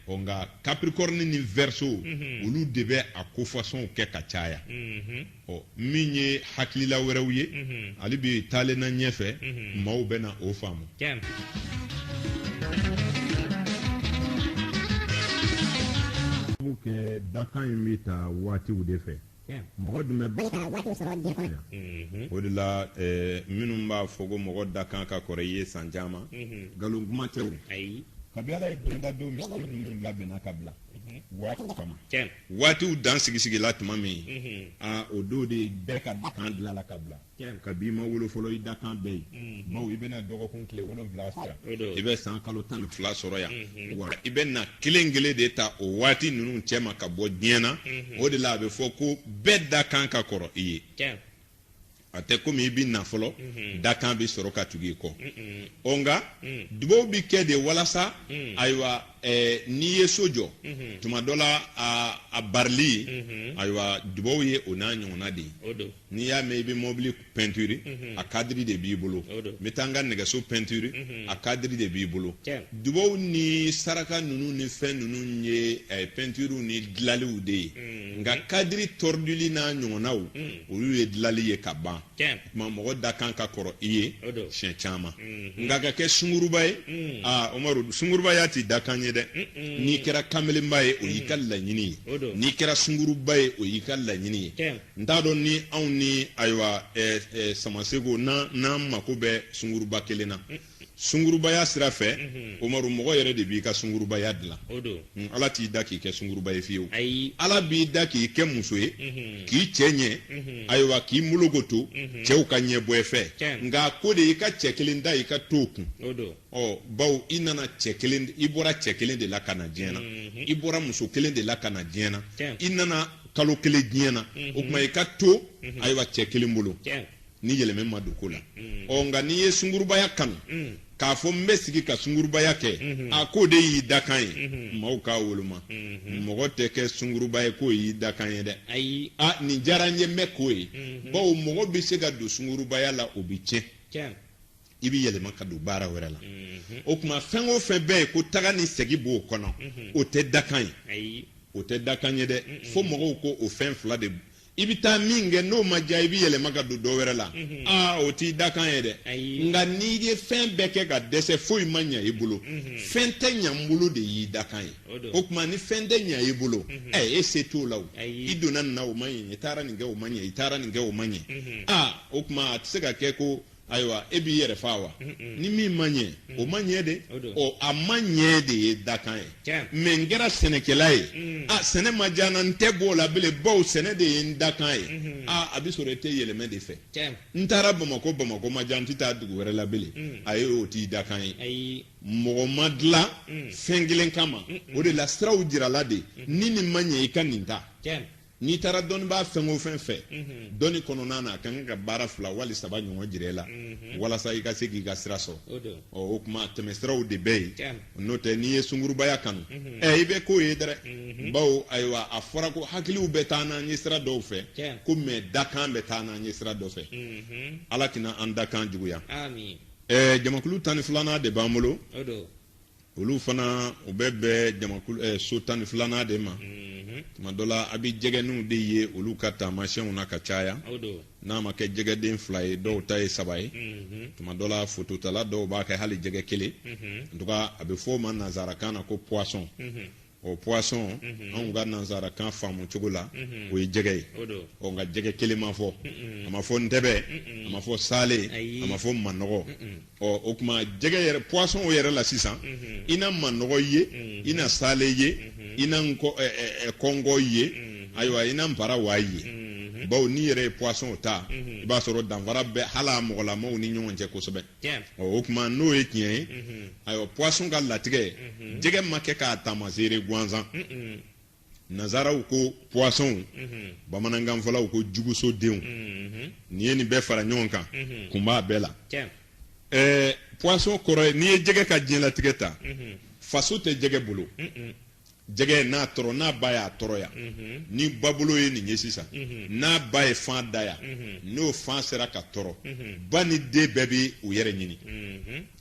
ɔ nka capricorne ni verseau mhm. olu de bɛ a kofasɔnw kɛ ka caya mhm. ɔ min ye hakilila wɛrɛw ye mhm. ale bɛ taalen na ɲɛfɛ maaw bɛ na o faamu kɔfɛ dakan in bɛ taa waatiw de fɛ Mɔgɔ dun bɛ bɔ ka waati sɔrɔ diɲɛ kɔnɔ. Unhun. O de la ɛɛ minnu b'a fɔ ko mɔgɔ dakan ka kɔrɔ i ye san caman. Unhun. Nkalon kuma tɛ o. Ayi. Kabi Ala ye diɲɛ da don min, Ala ye minnu labɛnna ka bila. Unhun. Waatiw kama. Tiɲɛ. Waatiw dan sigisigila tuma min. Unhun. Aa o don de bɛɛ ka dakan dilanna ka bila. kabi i ma wolo fɔlɔ i dakan bɛ yen mm-hmm. bawo i bɛna dɔgɔkun tile wolonwula sɔrɔ i bɛ san kalo tan ni fila sɔrɔ yan mm-hmm. wa i bɛ na kelen kelen de ta o waati ninnu cɛ ma ka bɔ diɲɛ na mm-hmm. o de la a bɛ fɔ ko bɛɛ dakan ka kɔrɔ i ye a tɛ komi i bɛ na fɔlɔ dakan bɛ sɔrɔ ka tugu i kɔ ɔ nka mm. dubaw bɛ kɛ de walasa mm. ayiwa eh, n'i ye so jɔ tuma dɔ la a barili ayiwa dubaw ye o n'a ɲɔgɔnna de ye n'i y'a mɛn i bɛ mɔbili pɛntiri mhm. a kadiri de b'i bolo n bɛ taa n ka nɛgɛso pɛntiri mhm. a kadiri de b'i bolo dubaw ni saraka ninnu ni fɛn ninnu ye eh, pɛntiriw ni dilaliw de ye mhm. nka kadiri tɔridili n'a ɲɔgɔnnaw olu ye dilali ye ka ban tuma mɔgɔ dakan ka kɔrɔ i ye siɲɛ caman nka ka kɛ sunguruba ye aa ah, umaru sungurubaya t'i dakan ye dɛ n'i kɛra kamelenba ye o y'i ka laɲini ye n'i kɛra sunguruba ye o y'i ka laɲini ye n t'a dɔn ni anw ni ayiwa samaseko n'an mako bɛ sunguruba kelen na sungurubaya sira fɛ omaru mɔgɔ yɛrɛ de b'i ka sungurubaya dilan ala t'i da k'i kɛ sunguruba ye fiyewu ayi ala b'i da k'i kɛ muso ye k'i cɛɲɛ ayiwa k'i moloko to cɛw ka ɲɛbɔ i fɛ nka ko de i ka cɛ kelen ta i ka to a kun ɔ bawo i nana cɛ kelen i bɔra cɛ kelen de la ka na diɲɛ na i bɔra muso kelen de la ka na diɲɛ na i nana kalo kelen diɲɛ na o tuma i ka to ayiwa cɛ kelen bolo ni yɛlɛmɛ ma don ko la ɔ nka n'i ye sungurubaya kanu k'a fɔ n bɛ sigi ka sungurubaya kɛ a k'o de y'i dakan ye maaw k'a woloma mɔgɔ tɛ kɛ sunguruba ye k'o y'i dakan ye dɛ ayi a nin diyara n ye n bɛ k'o ye bawo mɔgɔ bɛ se ka don sungurubaya la o bɛ tiɲɛ i bɛ yɛlɛma ka don baara wɛrɛ la mhm. o tuma fɛn o fɛn bɛɛ ye ko taga ni segin b'o kɔnɔ mhm. o tɛ dakan ye o tɛ dakan ye dɛ mhm. fo mɔgɔw ko o fɛn fila de i bɛ taa min kɛ n'o ma diya i bɛ yɛlɛma ka don dɔ wɛrɛ la aa o t'i dakan ye dɛ nka n'i ye fɛn bɛɛ kɛ ka dɛsɛ foyi ma ɲa i bolo fɛn tɛ ɲa n bolo de y'i dakan ye o tuma ni fɛn tɛ ɲa i bolo ɛ e se t'o la o i donna nin na o ma ɲɛ i taara nin kɛ o ma ɲɛ i taara nin kɛ o ma ɲɛ aa o tuma a tɛ se ka kɛ ko ayiwa e b'i yɛrɛ fa wa ni min ma ɲɛ o ma ɲɛ de ɔ a ma ɲɛ de ye dakan ye mais n kɛra sɛnɛkɛla ye mm. a sɛnɛ ma diya n na n tɛ b'o la bilen bawo sɛnɛ de ye n dakan ye mm-hmm. a a bɛ sɔrɔ e tɛ yɛlɛmɛ de fɛ n taara bamakɔ bamakɔ ma diya n tɛ taa dugu wɛrɛ la bilen mm. ayi o t'i dakan ye mɔgɔ ma dilan mm. fɛn kelen kama o de la siraw jirala de ni nin ma ɲɛ i ka nin ta N'i taara dɔnnibaa fɛn o fɛn fɛ dɔnni kɔnɔna na a ka kan ka baara fila wali saba ɲɔgɔn jira e la walasa i ka se k'i ka sira sɔrɔ ɔ o tuma tɛmɛsiraw de bɛ yen n'o tɛ n'i ye sungurubaya kanu ɛ i bɛ k'o ye dɛ bawo ayiwa a fɔra ko hakiliw bɛ taa n'an ye sira dɔw fɛ ko mais dakan bɛ taa n'an ye sira dɔ fɛ ala kana an dakan juguya ɛɛ jamakulu tan ni filanan de b'an bolo olu fana u bɛ bɛn jamakulu eh, so tan ni filanan de ma mhm. tuma dɔ la a bɛ jɛgɛninw de ye olu ka taamasiyɛnw na ka caya n'a ma kɛ jɛgɛden fila ye dɔw ta ye saba ye mhm. tuma dɔ la fototala dɔw b'a kɛ hali jɛgɛ kelen mhm. en tout cas a bɛ fɔ o ma nanzarakan na ko poisson o poisson mhm. anw ka nansarakan faamu cogo la mhm. o ye jɛgɛ ye ɔ nka jɛgɛ kelen ma fɔ a ma fɔ ntɛbɛ a ma fɔ sale a ma fɔ manɔgɔ ɔ o tuma jɛgɛ yɛrɛ poisson o yɛrɛ la sisan mhm. i na manɔgɔ ye i na sale ye i na kɔnkɔn ye ayiwa i na npara wa ye bawo n'i yɛrɛ ye poisson ta i b'a sɔrɔ danfara bɛ hali a mɔgɔlamaw ni ɲɔgɔn cɛ kosɛbɛ O kuma n'o ye tiɲɛ ye ayiwa poisson ka latigɛ jɛgɛ ma kɛ k'a taamaseere gansan nansaraw ko poissonw bamanankanfɔlaw ko jugusodenw n'i ye nin bɛɛ fara ɲɔgɔn kan kun b'a bɛɛ la poisson kɔrɔ n'i ye jɛgɛ ka diɲɛlatigɛ ta faso tɛ jɛgɛ bolo jɛgɛ n'a tɔrɔ n'a ba y'a tɔrɔ yan mhm. ni babolo ye nin ye sisan mhm. n'a ba ye fan da yan mhm. n'o fan sera ka tɔrɔ ba ni den bɛɛ bɛ u yɛrɛ ɲini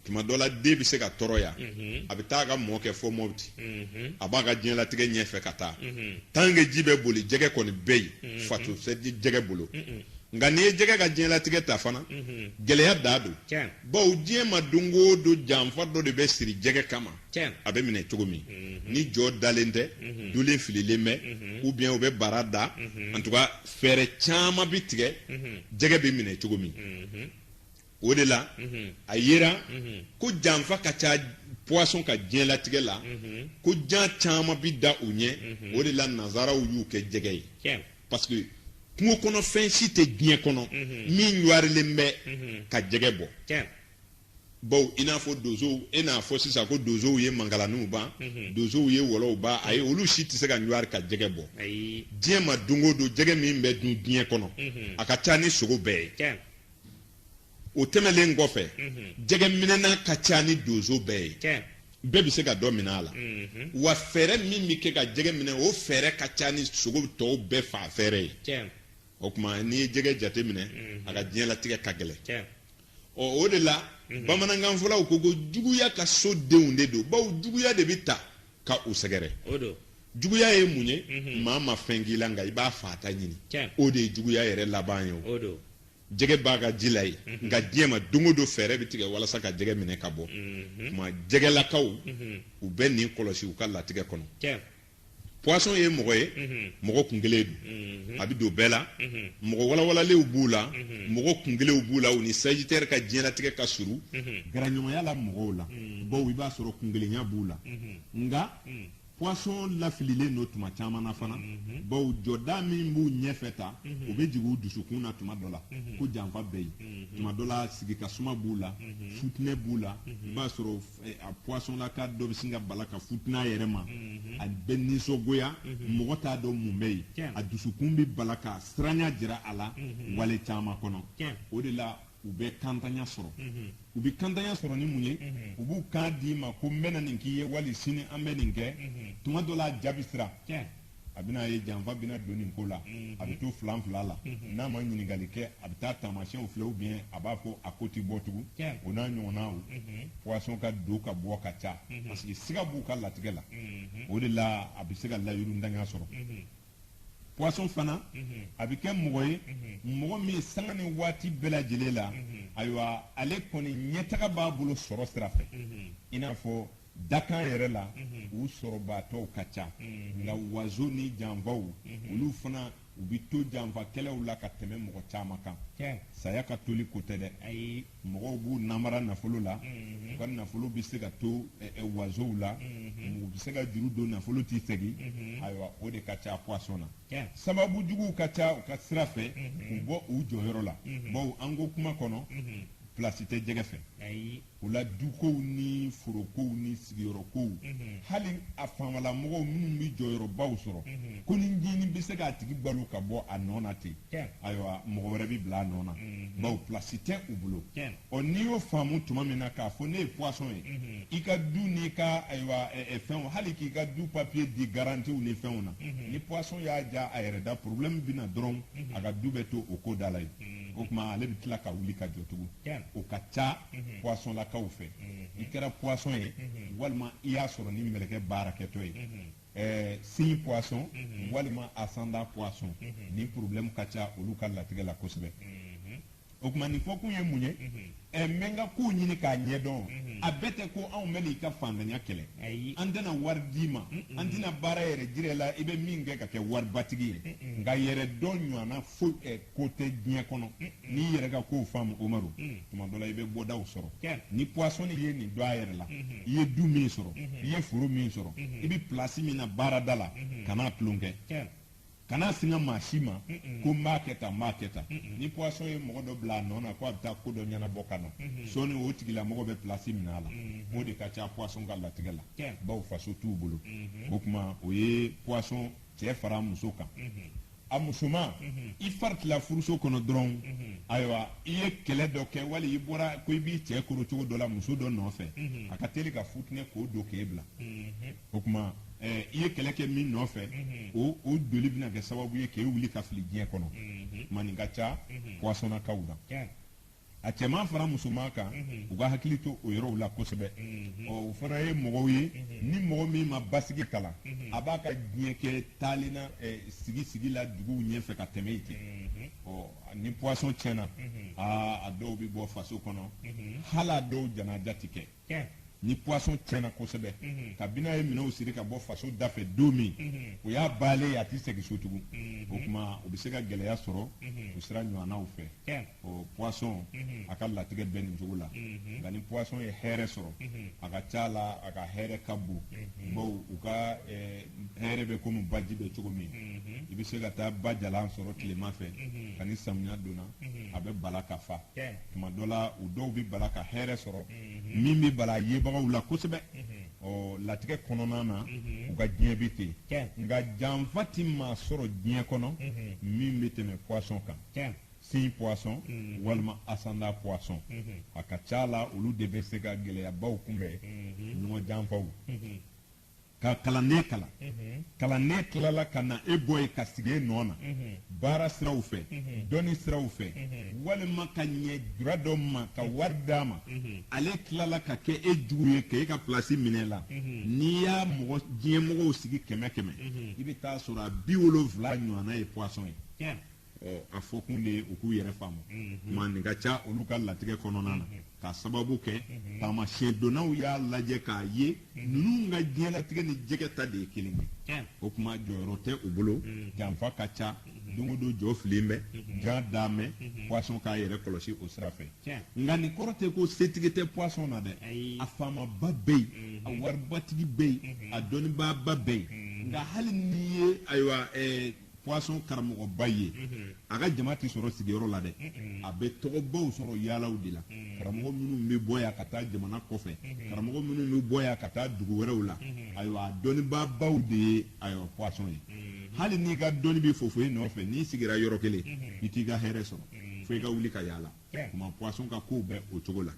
tuma dɔ la den bɛ se ka tɔrɔ yan a bɛ taa a ka mɔ kɛ fo Mɔti a b'a ka diɲɛlatigɛ ɲɛfɛ ka taa tant que ji bɛ boli jɛgɛ kɔni bɛ yen faso tɛ jɛgɛ bolo nka n'i ye jɛgɛ ka diɲɛlatigɛ ta fana gɛlɛya da don bawo diɲɛ ma don o don janfa dɔ de bɛ siri jɛgɛ kama a bɛ minɛ cogo min ni jɔ dalen tɛ dolen fililen bɛ ou bien u bɛ bara da en tout cas fɛɛrɛ caman bɛ tigɛ jɛgɛ bɛ minɛ cogo min o de la a yera ko janfa ka ca poisson ka diɲɛlatigɛ la ko jan caman bɛ da u ɲɛ o de la nansaraw y'u kɛ jɛgɛ ye parce que kungo kɔnɔ fɛn si tɛ diɲɛ kɔnɔ min ɲuwarilen bɛ ka jɛgɛ bɔ bawo i n'a fɔ donsow e n'a fɔ sisan ko donsow ye mankalaniw ban mhm. donsow ye wɔlɔw ban ayi olu si tɛ se ka ɲuwari ka jɛgɛ bɔ diɲɛ ma don o don jɛgɛ min bɛ dun diɲɛ kɔnɔ mhm. a ka ca ni sogo bɛɛ ye o tɛmɛlen kɔfɛ mhm. jɛgɛ minɛna ka ca ni donso bɛɛ ye bɛɛ bɛ se ka dɔ minɛ a la wa fɛɛrɛ min bɛ kɛ ka jɛgɛ minɛ o fɛɛrɛ ka ca ni sogo tɔw bɛɛ fa fɛɛrɛ ye o tuma n'i ye jɛgɛ jateminɛ a ka diɲɛlatigɛ ka gɛlɛn ɔ o de la mhm. bamanankan fɔlaw ko ko juguya ka so denw de don bawo juguya de bɛ taa ka u sɛgɛrɛ juguya ye mun ye mhm. maa ma fɛn k'i la nka i b'a fata ɲini o de ye juguya yɛrɛ laban ye o jɛgɛ b'a ka ji la yen mhm. nka diɲɛ ma don o don fɛɛrɛ bɛ tigɛ walasa ka jɛgɛ minɛ ka bɔ tuma jɛgɛlakaw u bɛ nin kɔlɔsi u ka latigɛ kɔnɔ poisson ye mɔgɔ ye mɔgɔ kun kelen don a bɛ don bɛɛ la mɔgɔ walawalalenw b'u la mɔgɔ kun kelenw b'u la u ni sagittaire ka diɲɛlatigɛ ka surun garaɲɔgɔnya la mɔgɔw la bawo i b'a sɔrɔ kun kelenya b'u la nka poisson lafililen don tuma caman na fana bawo jɔda min b'u ɲɛfɛ ta u bɛ jigin u dusukun na tuma dɔ la ko janfa bɛ yen tuma dɔ la sigikasuma b'u la futinɛ b'u la i b'a sɔrɔ Eh, a poissonlaka dɔ bɛ sin ka bala ka futinɛ a yɛrɛ ma mhm. a bɛ nisɔngoya mhm. mɔgɔ t'a dɔn mun bɛ yen a dusukun bɛ bala ka siranya jira a la mhm. wale caman kɔnɔ o de la u bɛ kantanya sɔrɔ u bɛ kantanya sɔrɔ ni mun ye u b'u kan d'i ma ko n bɛna nin k'i ye wali sini an bɛ nin kɛ tuma dɔ la a jaabi sira a bɛna ye janfa bɛna don nin ko la mhm. a bɛ to filan fila la mhm. n'a ma ɲininkali kɛ a bɛ taa taamasiyɛnw filɛ ou bien a b'a fɔ a ko tɛ bɔ tugun o n'a ɲɔgɔnnaw mhm. poisson ka don ka bɔ ka ca parce que siga b'u ka latigɛ la o de la a bɛ se ka layirundanya sɔrɔ poisson fana a bɛ kɛ mɔgɔ ye mɔgɔ min sanga ni waati bɛɛ lajɛlen la ayiwa ale kɔni ɲɛtaga b'a bolo sɔrɔ sira fɛ i n'a fɔ Dakan yɛrɛ la u sɔrɔbaatɔw ka ca nka wazo ni janfaw olu fana u bɛ to janfa kɛlɛw la ka tɛmɛ mɔgɔ caman kan saya ka toli ko tɛ dɛ mɔgɔw b'u namara nafolo la u ka nafolo bɛ se ka to wazow la u bɛ se ka juru don nafolo tɛ segin ayiwa o de ka ca poisson na sababu juguw ka ca u ka sira fɛ u bɔ u jɔyɔrɔ la bawo an ko kuma kɔnɔ pilasi tɛ jɛgɛ fɛ o la dukow ni forokow ni sigiyɔrɔkow mhm. hali a faamalamɔgɔw minnu bɛ jɔyɔrɔbaw sɔrɔ mhm. ko ni ɲini bɛ se k'a tigi balo ka bɔ a nɔ na ten ayiwa mɔgɔ wɛrɛ bɛ bila a nɔ na mhm. bawo pilasi tɛ u bolo ɔ n'i y'o faamu tuma min na k'a fɔ ne ye poisson ye i ka du n'i ka ayiwa fɛnw hali k'i ka du papiye di garantiw ni fɛnw na ni poisson y'a ja a yɛrɛ da problème bɛ na dɔrɔn a ka du bɛ to o ko da la yen. mm. o tuma ale bɛ tila ka wuli ka jɔ tugun o ka ca mm-hmm. poissonlakaw fɛ mm-hmm. i kɛra poisson ye mm-hmm. walima i y'a sɔrɔ ni mɛlɛkɛ baarakɛtɔ ye ɛɛ signe poisson walima ascendant poisson nin problème ka ca olu ka latigɛ la kosɛbɛ o tuma nin fɔkun ye mun ye ɛ n bɛ n ka kow ɲini k'a ɲɛdɔn a bɛɛ tɛ ko anw bɛn'i ka fantanya kɛlɛ an tɛna wari d'i ma an tɛna baara yɛrɛ jir'i la i bɛ min kɛ ka kɛ waribatigi ye nka yɛrɛ dɔn ɲɔgɔnna foyi ko tɛ diɲɛ kɔnɔ n'i yɛrɛ ka kow faamu Umaru tuma dɔ la i bɛ bɔdaw sɔrɔ ni poisson ye nin dɔn a yɛrɛ la i ye du min sɔrɔ i ye foro min sɔrɔ i bɛ pilasi min na baarada la kana tulonkɛ kan'a singa maa si ma ko n b'a kɛ tan n b'a kɛ tan ni poisson ye mɔgɔ dɔ bila a nɔ na ko a bɛ taa ko dɔ ɲɛnabɔ ka na sɔɔni o tigila mɔgɔ bɛ pilasi minɛ a la o de ka ca poisson ka latigɛ la bawo faso t'u bolo o tuma o ye poisson cɛ fara muso kan a musoman i faratila furuso kɔnɔ dɔrɔn ayiwa i ye kɛlɛ dɔ kɛ wali i bɔra ko i b'i cɛ koron cogo dɔ la muso dɔ nɔfɛ a ka teli ka futinɛ k'o don k'e bila o tuma eh, i ye kɛlɛ kɛ min nɔfɛ o o doli bɛna kɛ sababu ye k'e wuli ka fili diɲɛ kɔnɔ tuma nin ka ca poissonnakaw la a cɛman fara musoman kan u ka hakili to o yɔrɔw la kosɛbɛ o fana ye mɔgɔw ye ni mɔgɔ min ma basigi kalan a b'a ka diɲɛ kɛ taalen na sigi sigi la duguw ɲɛfɛ ka tɛmɛ yen ten ɔ ni poisson tiɲɛna a dɔw bɛ bɔ faso kɔnɔ hali a dɔw janaja tɛ kɛ ni poisson tiɲɛna kosɛbɛ kabini a ye minɛnw siri ka bɔ faso da fɛ don min o y'a taalen ye a tɛ segin so tugun o tuma o bɛ se ka gɛlɛya sɔrɔ o sira ɲɔgɔnnaw fɛ o poisson a ka latigɛ bɛ nin cogo la nka ni poisson ye hɛrɛ sɔrɔ a ka ca la a ka hɛrɛ ka bon bawo u ka hɛrɛ bɛ komi baji bɛ cogo min i bɛ se ka taa ba jalan sɔrɔ tilema fɛ nka ni samiya donna a bɛ bala ka fa tuma dɔ la u dɔw bɛ bala ka hɛrɛ sɔrɔ mhm. min bɛ bala yebagaw la kosɛbɛ mhm. ɔ latigɛ kɔnɔna na mhm. u ka diɲɛ bɛ ten nka janfa tɛ maa sɔrɔ diɲɛ kɔnɔ min bɛ tɛmɛ poisson kan signe poisson walima ascendant poisson a ka ca la olu de bɛ se ka gɛlɛyabaw kunbɛn ɲɔgɔn janfaw ka kalanden kalan mhm. kalanden tilala ka na e bɔ yen ka sigi e nɔ na mhm. baara siraw fɛ mhm. dɔnni siraw fɛ walima ka ɲɛ jura dɔ ma ka wari d'a ma ale tilala ka kɛ e jugu ye ka e ka pilasi minɛ la n'i y'a mɔgɔ diɲɛmɔgɔw sigi kɛmɛ kɛmɛ i bɛ t'a sɔrɔ a bi wolonfila ɲɔgɔnna ye poisson ye a fɔ kun de ye u k'u yɛrɛ faamu tuma nin ka ca olu ka latigɛ kɔnɔna na k'a sababu kɛ taamasiyɛndɔnnaw y'a lajɛ k'a ye ninnu ka diɲɛlatigɛ ni jɛgɛ ta de ye kelen ye o tuma jɔyɔrɔ tɛ u bolo janfa ka ca don o don jɔ fililen bɛ jan d'a ɲɛ poisson k'a yɛrɛ kɔlɔsi o sira fɛ nka nin kɔrɔ tɛ ko setigi tɛ poisson na dɛ a faamaba bɛ yen a waribatigi bɛ yen a dɔnnibaaba bɛ yen nka hali n'i ye ayiwa poisson karamɔgɔba ye a ka jama tɛ sɔrɔ sigiyɔrɔ la dɛ a bɛ tɔgɔbaw sɔrɔ yaalaw de la karamɔgɔ minnu bɛ bɔ yan ka taa jamana kɔfɛ karamɔgɔ minnu bɛ bɔ yan ka taa dugu wɛrɛw la ayiwa a dɔnnibaabaw de ye ayiwa poisson ye hali n'i ka dɔnni bɛ fofo i nɔfɛ n'i sigira yɔrɔ kelen i t'i ka hɛrɛ sɔrɔ fo i ka wuli ka yaala tuma poisson ka kow bɛ o cogo la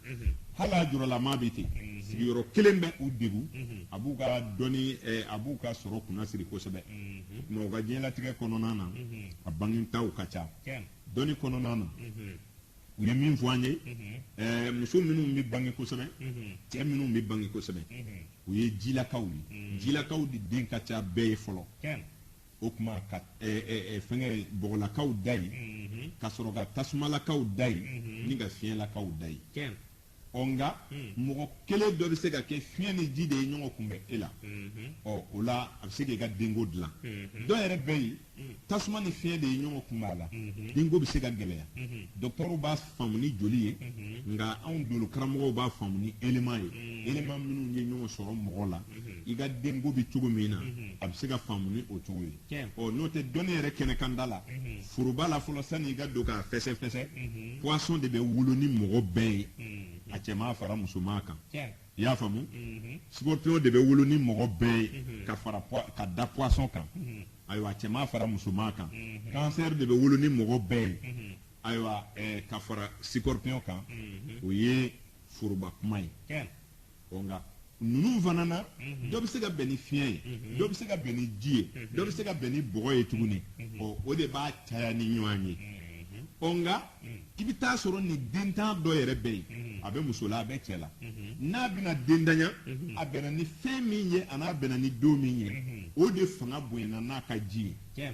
hali a jɔrɔlama bɛ ten sigiyɔrɔ kelen bɛ u degun a b'u ka dɔnni a b'u ka sɔrɔ kunna siri kosɛbɛ tuma u ka diɲɛlatigɛ kɔnɔna na a bangetaw ka ca dɔnni kɔnɔna na u ye min fɔ an ye muso minnu bɛ bange kosɛbɛ cɛ minnu bɛ bange kosɛbɛ u ye jilakaw ye jilakaw de den ka ca bɛɛ ye fɔlɔ o tuma ka fɛnkɛ bɔgɔlakaw da yen mhm. ka sɔrɔ ka tasumalakaw da yen mhm. ni ka fiɲɛlakaw da yen ɔ nka mhm. mɔgɔ kelen dɔ bɛ se ka kɛ fiɲɛ ni ji de ye ɲɔgɔn kunbɛn e la ɔ o la a bɛ se k'i ka denko dilan dɔ yɛrɛ bɛ yen tasuma ni fiɲɛ de ye ɲɔgɔn kunbɛn a la denko bɛ se ka gɛlɛya dɔgɔtɔrɔw b'a faamu ni joli ye nka anw dolo karamɔgɔw b'a faamu ni élément ye élément minnu ye ɲɔgɔn sɔrɔ mɔgɔ la i ka denko bɛ cogo min na a bɛ se ka faamu ni o cogo ye ɔ n'o tɛ dɔnni yɛrɛ kɛnɛ kan da la foroba la fɔlɔ sani i ka don k'a fɛsɛfɛsɛ pwason de bɛ wolo ni mɔgɔ bɛɛ ye a cɛman fara musoman kan i y'a faamu sikɔrɔpyɔn de bɛ wolo ni mɔgɔ bɛɛ ye ka fara ka da pwason kan ayiwa cɛman fara musoman kan kansɛri de bɛ wolo ni mɔgɔ bɛɛ ye ayiwa ka fara sikɔrɔpyɔn kan o ye foroba kuma ye nka ninnu fana na mhm. dɔ bɛ se ka bɛn ni fiɲɛ ye mhm. dɔ bɛ se ka bɛn ni ji ye mhm. dɔ bɛ se ka bɛn ni bɔgɔ ye tuguni ɔ o de b'a caya ni ɲɔgɔn ye ɔ nka i bɛ taa sɔrɔ nin dentan dɔ yɛrɛ bɛ yen a bɛ muso la a bɛ cɛ la n'a bɛna dentanya a bɛnna ni fɛn min ye ani a bɛnna ni don min ye o de fanga bonyana n'a ka ji ye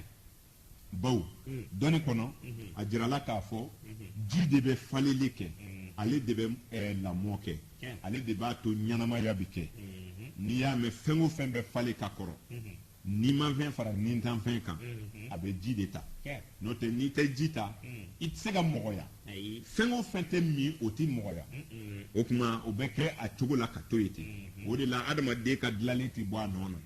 bawo dɔnni kɔnɔ a jirala k'a fɔ ji de bɛ faleli kɛ ale de bɛ eh, lamɔ kɛ ale de b'a to ɲɛnamaya bɛ kɛ n'i y'a mɛn fɛn o fɛn bɛ falen ka kɔrɔ n'i ma fɛn fara nintanfɛn kan a bɛ ji de ta n'o tɛ n'i tɛ ji ta i tɛ se ka mɔgɔya fɛn o fɛn tɛ min o tɛ mɔgɔya o tuma o bɛ kɛ a cogo la ka to yen ten o de la adamaden ka dilanlen tɛ bɔ a nɔ na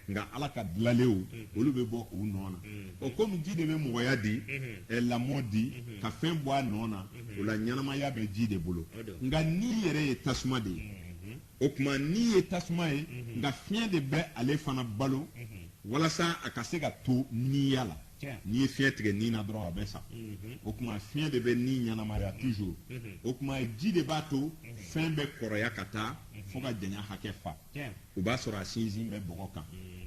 nka ala ka dilanlenw mhm. olu bɛ bɔ u nɔ na mhm. o komi ji de bɛ mɔgɔya di mhm. lamɔ di ka fɛn bɔ a nɔ na o la ɲɛnamaya bɛ ji de bolo nka ni yɛrɛ ye tasuma de ye o tuma ni ye tasuma ye nka fiɲɛ de bɛ ale fana balo walasa a ka se ka to niya la n'i ye fiɲɛ tigɛ ni na dɔrɔn a bɛ sa o tuma fiɲɛ de bɛ ni ɲɛnamaya toujours o tuma ji de b'a to fɛn bɛ kɔrɔya ka taa fo ka janya hakɛ fa o b'a sɔrɔ a sinsin bɛ bɔgɔ kan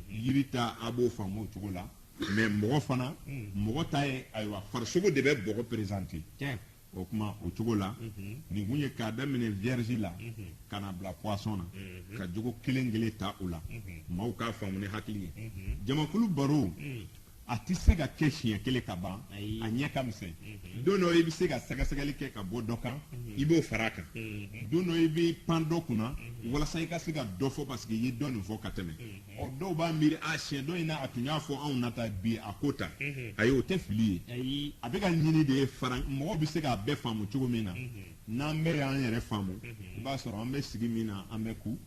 yiri ta a b'o faamu o cogo la mɛ mɔgɔ fana mɔgɔ ta ye ayiwa farisogo de bɛ bɔgɔ perezante o kuma o cogo la nin kun ye k'a daminɛ viyɛrisi la ka na bila pwason na ka jogo kelen kelen ta o la maaw k'a faamu ni hakili ye jamakulu baro a tɛ se ka kɛ siɲɛ kelen ka ban a ɲɛ ka misɛn mhm. don dɔ i bɛ se ka sɛgɛsɛgɛli kɛ ka bɔ dɔ kan mhm. i b'o fara a kan mhm. don dɔ i bɛ pan dɔ kunna walasa i ka se ka dɔ fɔ parce que i ye dɔ nin fɔ ka tɛmɛ ɔ dɔw b'a miiri a siɲɛ dɔ in na a tun y'a fɔ anw na tan bi a ko tan ayi o tɛ fili ye a bɛ ka ɲini de ye fara mɔgɔw bɛ se k'a bɛɛ faamu cogo min na n'an bɛɛ y'an yɛrɛ faamu i b'a sɔrɔ an bɛ sigi min na an bɛ ku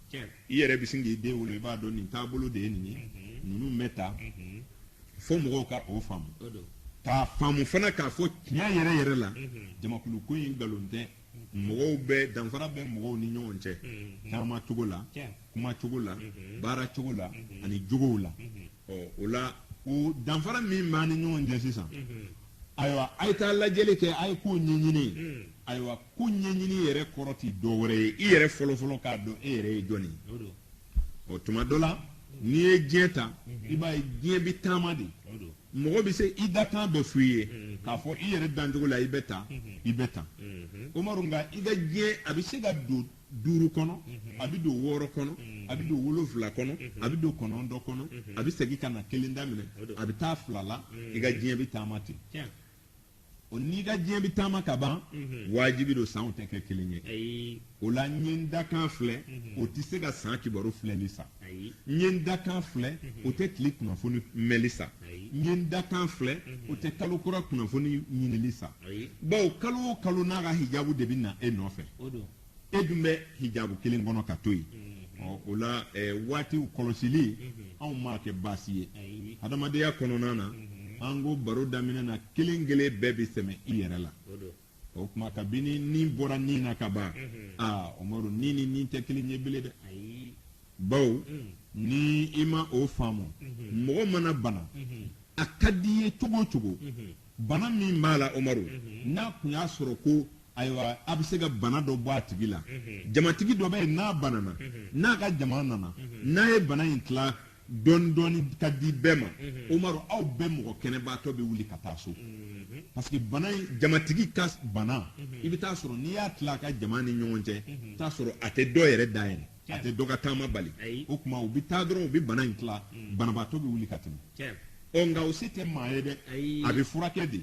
i yɛrɛ bɛ sin k'i den wolo i b'a dɔn nin taabolo de ye nin ye ninnu bɛ ta fo mɔgɔw ka o faamu k'a faamu fana k'a fɔ tiɲɛ yɛrɛ yɛrɛ la jamakulu ko in nkalon tɛ mɔgɔw bɛ danfara bɛ mɔgɔw ni ɲɔgɔn cɛ taama cogo la kuma cogo la baara cogo la ani jogow la ɔ o la o danfara min b'an ni ɲɔgɔn cɛ sisan ayiwa a ye taa lajɛli kɛ a ye kow ɲɛɲini ayiwa ko ɲɛɲini yɛrɛ kɔrɔ tɛ dɔ wɛrɛ ye i yɛrɛ fɔlɔfɔlɔ k'a dɔn e yɛrɛ ye jɔni ye ɔ tuma dɔ la n'i ye diɲɛ ta i b'a ye diɲɛ bɛ taama de mɔgɔ bɛ se i dakan bɛɛ f'i ye k'a fɔ i yɛrɛ dancogo la i bɛ tan i bɛ tan umaru nka i ka diɲɛ a bɛ se ka don duuru kɔnɔ a bɛ don wɔɔrɔ kɔnɔ a bɛ don wolonfila kɔnɔ a bɛ don kɔnɔntɔn kɔnɔ a bɛ segin ka na kelen daminɛ a bɛ taa fila la i ka diɲɛ bɛ taama ten o n'i ka diɲɛ bɛ taama ka ban wajibi don sanw tɛ kɛ kelen ye o la n ye n dakan filɛ o tɛ se ka san kibaru filɛli sa n ye n dakan filɛ o tɛ tile kunnafoni mɛnli sa n ye n dakan filɛ o tɛ kalo kura kunnafoni ɲinili sa bawo kalo o kalo n'a ka hijabu de bɛ na e nɔfɛ e dun bɛ hijabu kelen kɔnɔ ka to yen o la waatiw kɔlɔsili anw m'a kɛ baasi ye hadamadenya kɔnɔna na an ko baro daminɛ na kelen kelen bɛɛ bɛ sɛmɛ i yɛrɛ la o tuma kabini ni bɔra ni na ka ban aa umaru ni ni ni tɛ kelen ye bilen dɛ bawo ni i ma o faamu mɔgɔ mana bana a ka di i ye cogo o cogo bana min b'a la umaru n'a kun y'a sɔrɔ ko ayiwa a bɛ se ka bana dɔ bɔ a tigi la jamatigi dɔ bɛ yen n'a banana n'a ka jama nana n'a ye bana in tila dɔɔni dɔɔni ka di bɛɛ ma mhm. umaru aw bɛɛ mɔgɔ kɛnɛbaatɔ bɛ wuli ka taa so mhm. parce que bana in jamatigi ka bana mhm. i bɛ t'a sɔrɔ n'i y'a tila a ka jama ni ɲɔgɔn cɛ i t'a sɔrɔ a tɛ dɔ yɛrɛ da yɛrɛ a tɛ dɔ ka taama bali o tuma u bɛ taa dɔrɔn u bɛ bana in tila banabaatɔ bɛ wuli ka tɛmɛ ɔ nka o se tɛ maa ye dɛ a bɛ furakɛ de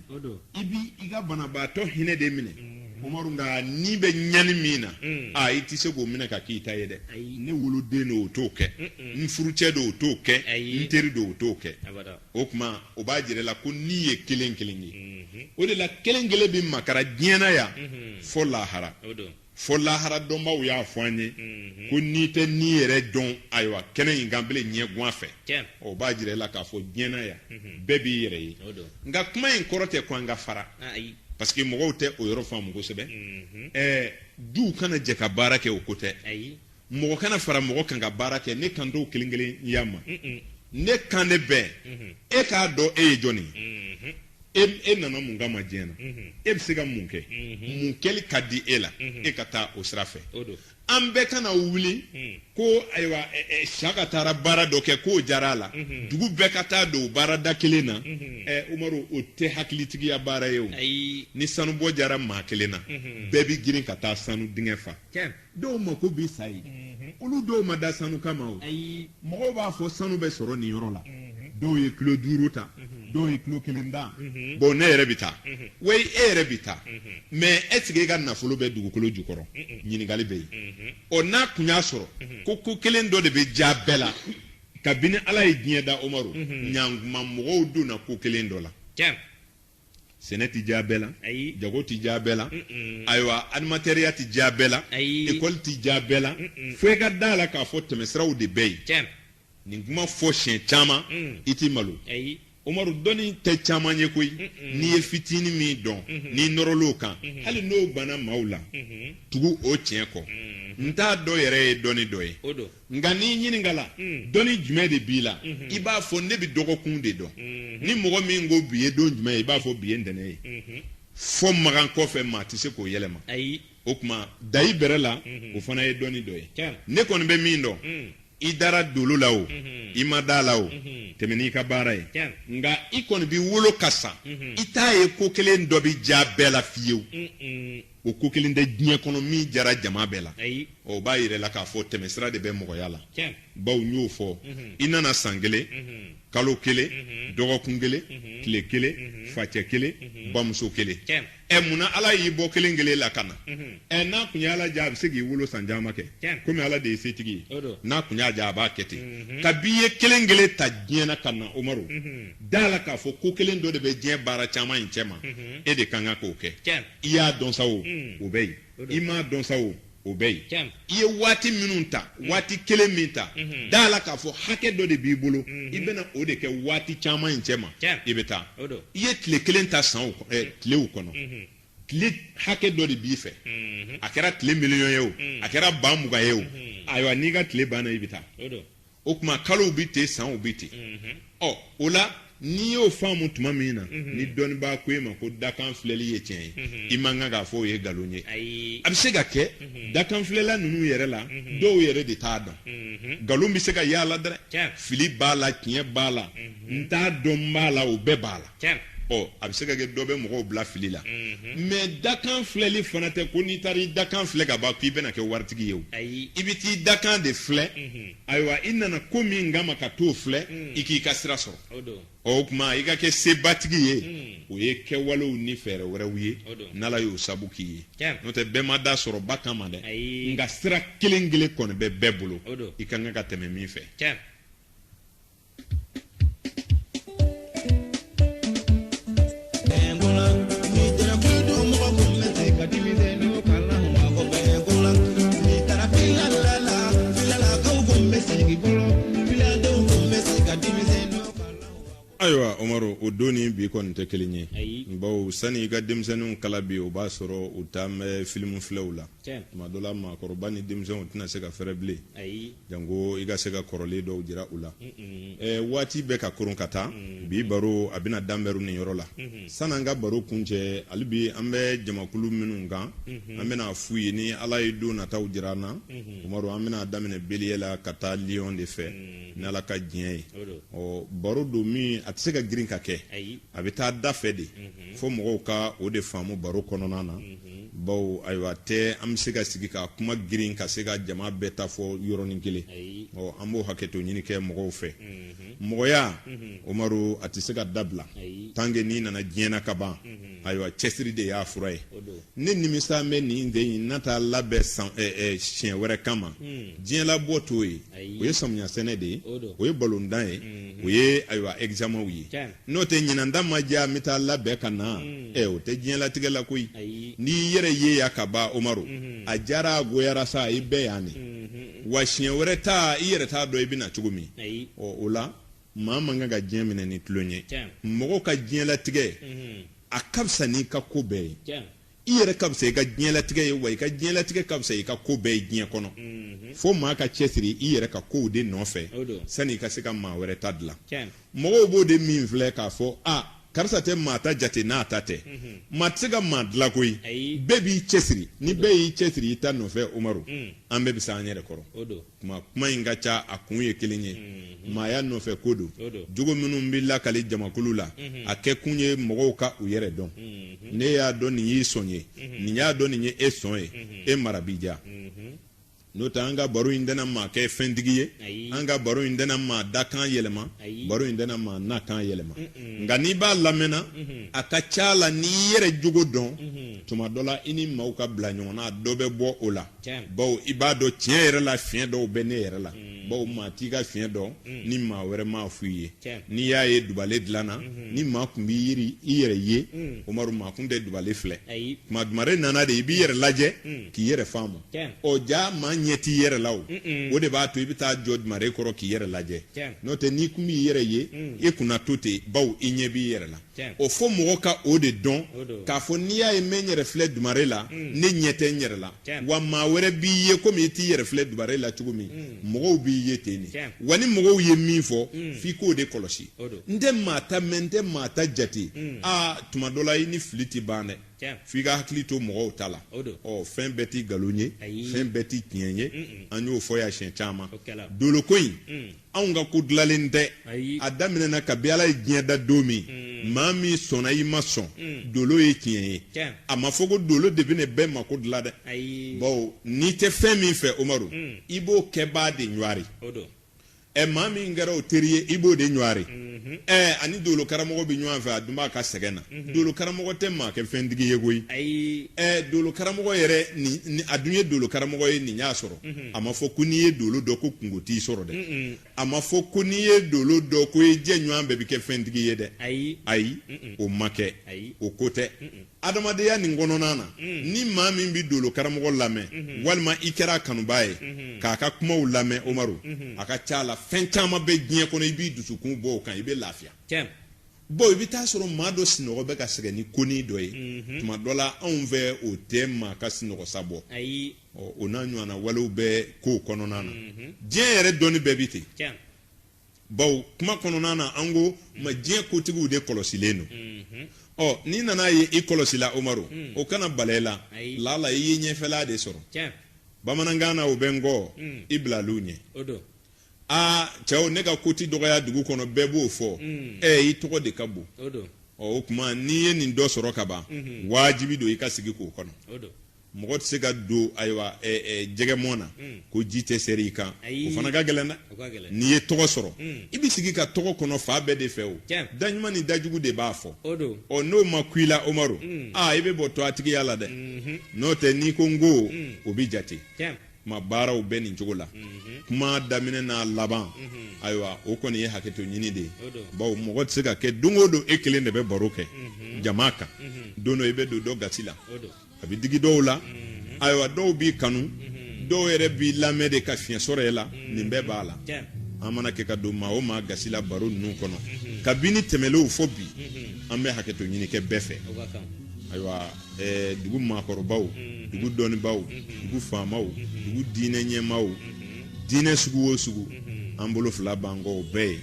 i bi i ka banabaatɔ hinɛ de minɛ mm. umaru nka ni bɛ ɲani min na mm. a i tɛ se k'o minɛ ka k'i ta ye dɛ ne woloden don o t'o kɛ n furucɛ don o t'o kɛ n teri don o t'o kɛ o tuma o b'a jira la ko ni ye kelen kelen ye mm-hmm. o de la kelen kelen bɛ makara diɲɛ na yan mm-hmm. fo lahara fo lahara dɔnbaaw y'a fɔ an ye mhm. ko ni tɛ ni yɛrɛ dɔn ayiwa kɛnɛ in kan bilen ɲɛgwan fɛ o b'a jira i la k'a fɔ diɲɛ na yan mhm. bɛɛ b'i yɛrɛ ye nka kuma in kɔrɔ tɛ ko an ka fara ah, parce que mɔgɔw tɛ o yɔrɔ faamu kosɛbɛ mhm. ɛɛ duw kana jɛ ka baara kɛ o ko tɛ mɔgɔ kana fara mɔgɔ kan ka baara kɛ ne kan t'o kelenkelenya ma ne kan ne bɛɛ mhm. e k'a dɔn e ye jɔnni mhm. e, e nana mun kama diɲɛ na mhm. e bɛ se ka mun kɛ mun kɛli ka di e la e ka taa o sira fɛ an bɛɛ kana wuli hmm. ko ayiwa saka taara baara dɔ kɛ k'o jara a la hmm. dugu bɛɛ ka taa don baarada kelen na hmm. ɛ umaru o tɛ hakilitigiya baara ye o ni sanubɔ jara maa kelen na bɛɛ bɛ girin ka taa sanu dingɛ fa dɔw mako bɛ sa yen olu dɔw ma da sanu kama o mɔgɔw b'a fɔ sanu bɛ sɔrɔ nin yɔrɔ la dɔw ye kilo duuru ta dɔw ye kilo kelen ta bɔn ne yɛrɛ bɛ taa wa e yɛrɛ bɛ taa mɛ ɛsike e ka nafolo bɛ dugukolo jukɔrɔ ɲininkali bɛ yen ɔ n'a tun y'a sɔrɔ ko ko kelen dɔ de bɛ ja bɛɛ la kabini ala ye diɲɛ da umaru nin tuma mɔgɔw donna ko kelen dɔ la sɛnɛ tɛ diya bɛɛ la jago tɛ diya bɛɛ la ayiwa animatɛriya tɛ diya bɛɛ la ekɔli tɛ diya bɛɛ la fo i ka da la k'a fɔ tɛmɛsiraw de bɛ yen nin kuma fɔ siɲɛ caman mm. i tɛ malo umaru dɔnni tɛ caman ye koyi n'i ye fitinin min dɔn mm-hmm. n'i nɔrɔl'o kan mm-hmm. hali n'o gwanna maaw la mm-hmm. tugu o tiɲɛ kɔ mm. n t'a dɔn yɛrɛ ye dɔnni dɔ ye nka n'i ɲininkala hmm. dɔnni jumɛn de b'i la hmm. i b'a fɔ ne bɛ dɔgɔkun de dɔn hmm. ni mɔgɔ min ko bi ye don jumɛn ye i b'a fɔ bi ye ntɛnɛn ye fo makan kɔfɛ maa tɛ se k'o yɛlɛma o tuma da i bɛrɛ la o fana ye dɔnni dɔ ye ne kɔni bɛ min dɔn i dara dolo la o i ma da la o tɛmɛ n'i ka baara ye nka i kɔni bɛ wolo ka sa i t'a ye ko kelen dɔ bɛ diya bɛɛ la fewu o ko kelen tɛ diɲɛ kɔnɔ min jara jama bɛɛ la o b'a yir'i la k'a fɔ tɛmɛsira de bɛ mɔgɔya la bawo n y'o fɔ mhm. i nana san kelen mhm. kalo kelen mhm. dɔgɔkun kelen tile kelen facɛ kelen bamuso kelen ɛ munna ala y'i bɔ kelen kelen la ka na ɛ n'a tun ye ala ja a bɛ se k'i wolo san caman kɛ komi ala de ye setigi ye n'a tun y'a ja a b'a kɛ ten kabi i ye kelen kelen ta diɲɛ na ka na umaru da la k'a fɔ ko kelen dɔ de bɛ diɲɛ baara caman in cɛ ma e de kan ka k'o kɛ i y'a dɔn sa o hmm. o bɛ yen i m'a dɔn sa o o bɛ yen i ye waati minnu ta hmm. waati kelen min ta hmm. da la k'a fɔ hakɛ dɔ de b'i bolo i bɛna o de kɛ waati caman in cɛ ma i bɛ taa i ye tile kelen ta san eh, tilew kɔnɔ tile hakɛ dɔ de b'i fɛ a kɛra tile miliyɔn ye o a kɛra ba mugan ye o ayiwa n'i ka tile banna i bɛ taa o tuma kalow bɛ ten sanw bɛ ten ɔ o la n'i y'o faamu tuma min na ni dɔnnibaa ko e ma ko dakan filɛli ye tiɲɛ ye i man kan k'a fɔ o ye nkalon ye a bɛ se ka kɛ dakan filɛla ninnu yɛrɛ la dɔw yɛrɛ de t'a dɔn nkalon bɛ se ka y'a la dɛrɛ fili b'a la tiɲɛ b'a la n t'a dɔn b'a la o bɛɛ b'a la A bɛ se ka kɛ dɔ bɛ mɔgɔw bila fili la mɛ dakan filɛli fana tɛ ko n'i taara i dakan filɛ ka ban k'i bɛna kɛ waritigi ye ayi i bɛ t'i dakan de filɛ ayiwa i nana ko min kama ka t'o filɛ i k'i ka sira sɔrɔ o tuma i ka kɛ sebatigi ye o ye kɛwalew ni fɛɛrɛ wɛrɛw ye n'ala y'o sabu k'i ye n'o tɛ bɛɛ ma da sɔrɔba kama dɛ nka sira kelen kelen kɔni bɛ bɛɛ bolo i ka kan ka tɛmɛ min fɛ Ayiwa Umaru o don ni bi kɔni tɛ kelen ye bawo sani i ka denmisɛnninw kalan bi o b'a sɔrɔ u taalen bɛ filimu filɛw la tuma dɔ la maakɔrɔba ni denmisɛnw tɛna se ka fɛrɛ bilen Janko i ka se ka kɔrɔlen dɔw jira u la waati bɛ ka koron ka taa bi baro a bɛna danbɛn nin yɔrɔ la sani an ka baro kuncɛ hali bi an bɛ jamakulu minnu kan an bɛna f'u ye ni ala ye don nataw jira an na o tuma an bɛna daminɛ Beliye la ka taa Lion de fɛ ni ala ka diɲɛ ye ɔ baro don min a tɛ se ka girin ka kɛ a bɛ taa da fɛ de fo mɔgɔw ka o de faamu baro kɔnɔna na bawo ayiwa tɛ an bɛ se ka sigi ka kuma girin ka se ka jama bɛɛ ta fɔ yɔrɔnin kelen ɔ an b'o hakɛto ɲini kɛ mɔgɔw fɛ mɔgɔya Umaru a tɛ se ka dabila tant que n'i nana diɲɛ na ka ban ayiwa cɛsiri de y'a fura ye ne nimisa bɛ nin den in n'a taa labɛn siɲɛ wɛrɛ kama diɲɛlabɔ t'o ye o ye samiyɛsɛnɛ de ye o ye balontan ye o ye ayiwa examenw ye n'o tɛ ɲinan ta ma diya n bɛ taa labɛn ka na hmm. ɛ o tɛ diɲɛlatigɛ la koyi n'i y'i yɛrɛ ye yan ka ban Umaru hmm. a diyara a goyara sa i bɛ yan de hmm. wa siɲɛ wɛrɛ ta i yɛrɛ t'a dɔn i bɛ na cogo min ɔ o la maa man kan ka diɲɛ minɛ ni tulon ye mɔgɔ ka diɲɛlatigɛ a ka fisa n'i ka ko bɛɛ ye i yɛrɛ ka fisa i ka diɲɛlatigɛ ye wa i ka diɲɛlatigɛ ka fisa i ka ko bɛɛ ye diɲɛ kɔnɔ mhm. fo maa ka cɛsiri i yɛrɛ ka kow de nɔfɛ sani i ka se ka maa wɛrɛ ta dilan mɔgɔw b'o de min filɛ k'a fɔ a karisa tɛ maa ta jate n'a ta tɛ mhm. maa tɛ se ka maa dilan koyi bɛɛ b'i cɛsiri ni bɛɛ y'i cɛsiri i ta nɔfɛ Umaru mm. an bɛɛ bɛ se an yɛrɛ kɔrɔ kuma kuma in ka ca a kun ye kelen ye mhm. maaya nɔfɛ ko don jogo minnu bɛ lakali jamakulu la mhm. a kɛ kun ye mɔgɔw ka u yɛrɛ dɔn mhm. ne y'a dɔn nin y'i sɔn ye ni n y'a dɔn nin ye e sɔn ye e mara bɛ diya n'o tɛ an ka baro in tɛna maa kɛ fɛntigi ye an ka baro in tɛna maa dakan yɛlɛma baro in tɛna maa nakan yɛlɛma nka n'i b'a lamɛnna mhm. a ka ca la n'i yɛrɛ jogo dɔn mhm. tuma dɔ la i ni maaw ka bila ɲɔgɔn na dɔ bɛ bɔ o la bawo i b'a dɔn tiɲɛ yɛrɛ la fiɲɛ dɔw bɛ ne yɛrɛ la mm. bawo maa t'i ka fiɲɛ dɔn mm. ni maa wɛrɛ m'a f'i ye n'i y'a ye dubale dilanna mm-hmm. ni maa kun b'i ye i yɛrɛ ye mm. Umaru maa kun tɛ dubale filɛ tuma dumare nana de i b'i yɛrɛ lajɛ k'i yɛrɛ faamu ɔ ja maa ɲɛ t'i yɛrɛ la o o de b'a to i bɛ taa jɔ dumare kɔrɔ k'i yɛrɛ lajɛ n'o tɛ n'i kun b'i yɛrɛ ye i kun na to ten bawo i ɲɛ b'i yɛrɛ la o fo mɔgɔ ka o de dɔn k'a fɔ n'i y'a ye n bɛ n yɛrɛ filɛ dungare la mm. ne ɲɛ tɛ n yɛrɛ la wa maa wɛrɛ b'i ye komi i t'i yɛrɛ filɛ dungare la cogo min mm. mɔgɔw b'i ye ten de wa ni mɔgɔw ye min fɔ mm. f'i k'o de kɔlɔsi n tɛ maa ta mɛn n tɛ maa ta jate aa tuma dɔ la i ni fili tɛ ban dɛ f'i ka hakili to mɔgɔw ta la ɔ fɛn bɛɛ tɛ nkalon ye fɛn bɛɛ tɛ tiɲɛ ye an y'o fɔ yan siɲɛ caman doloko in anw ka ko dilalen tɛ a daminɛna kabi ala ye diɲɛ da don min hmm. maa min sɔnna i ma sɔn hmm. dolo ye tiɲɛ ye a ma fɔ ko dolo de bɛna bɛɛ mako dilan dɛ bawo n'i tɛ fɛn min fɛ omaru hmm. i b'o kɛbaa de ɲwari ɛ maa min kɛra o teri ye i b'o de ɲwari Mhm. Eh, ani dolo karamɔgɔ bɛ ɲɔgɔn fɛ a dun b'a ka sɛgɛn na mhm. dolo karamɔgɔ tɛ maa kɛ fɛntigi ye koyi ayi eh, dolo karamɔgɔ yɛrɛ nin a dun ye dolo karamɔgɔ ye nin y'a sɔrɔ mhm. a ma fɔ ko n'i ye dolo dɔn ko kunko t'i sɔrɔ dɛ a ma fɔ ko n'i ye dolo dɔn ko i jɛɲɔgɔn bɛɛ bɛ kɛ fɛntigi ye dɛ ayi ayi o ma kɛ o ko tɛ adamadenya nin kɔnɔna na ni maa min bɛ dolo karamɔgɔ lamɛn walima i kɛra a kanubaa ye k'a ka kumaw lamɛn omaru a ka ca a la fɛn caman bɛ diɲɛ kɔnɔ i b'i dusukun bɔ o kan i bɛ lafiya bawo i bɛ taa sɔrɔ maa dɔ sinɔgɔ bɛ ka sɛgɛn ni ko nin dɔ ye tuma dɔ la anw fɛ o tɛ maa ka sinɔgɔ sa bawo o n'a ɲɔgɔnna walew bɛ kow kɔnɔna na diɲɛ yɛrɛ dɔnni bɛɛ bɛ ten bawo kuma kɔnɔna na an ko ma diɲɛ kotigiw de kɔlɔsilen don mhm. ɔ n'i nana ye i kɔlɔsi la umaru mm. o kana bal'i la lala i ye ɲɛfɛla de sɔrɔ bamanankan na o bɛ n kɔ mm. i bilal'u ɲɛ aa cɛw ne ka ko tɛ dɔgɔya dugu kɔnɔ bɛɛ b'o fɔ mm. ɛ i tɔgɔ de ka bon ɔ o tuma n'i ye nin dɔ sɔrɔ ka ban mhm. wajibi don i ka sigi k'o kɔnɔ mɔgɔ tɛ se ka don ayiwa jɛgɛmɔn na hmm. ko ji tɛ seri i kan o fana ka gɛlɛn dɛ n'i ye tɔgɔ sɔrɔ hmm. i bɛ sigi ka tɔgɔ kɔnɔ fan bɛɛ de fɛ o daɲuman ni dajugu de b'a fɔ ɔ n'o ma kun i la omaro hmm. aa i bɛ bɔ tɔgɔtigiya la dɛ mhm. n'o tɛ n'i ko n ko o bɛ jate kuma baaraw bɛ nin cogo la mhm. kuma daminɛ n'a laban mhm. ayiwa o kɔni ye hakɛto ɲini de ye bawo mɔgɔ tɛ se ka kɛ don o don e kelen de bɛ baro kɛ jama kan don dɔ i bɛ don dɔ gasi la a bɛ digi dɔw la mhm. ayiwa dɔw b'i kanu mhm. dɔw yɛrɛ b'i lamɛn de ka fiɲɛ sɔrɔ e la mhm. nin bɛɛ b'a la an mana kɛ ka don maa o maa gasi la baro ninnu kɔnɔ kabini tɛmɛlenw fo bi an bɛ hakɛto ɲini kɛ bɛɛ fɛ ayiwa eh, dugu maakɔrɔbaw dugu dɔnnibaaw dugu faamaw dugu diinɛ ɲɛmaaw diinɛ sugu o sugu an bolo fila b'an kɔ o bɛɛ ye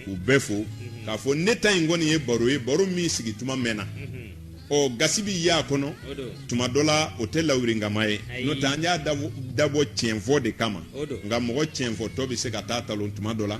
k'u bɛɛ fo k'a fɔ ne ta in kɔni ye baro ye baro min sigi tuma mɛnna ɔ gasi bɛ y'a kɔnɔ tuma dɔ la o tɛ lawurinkama ye n'o tɛ an y'a dabɔ tiɲɛfɔ de kama nka mɔgɔ tiɲɛfɔtɔ bɛ se ka taa talon tuma dɔ la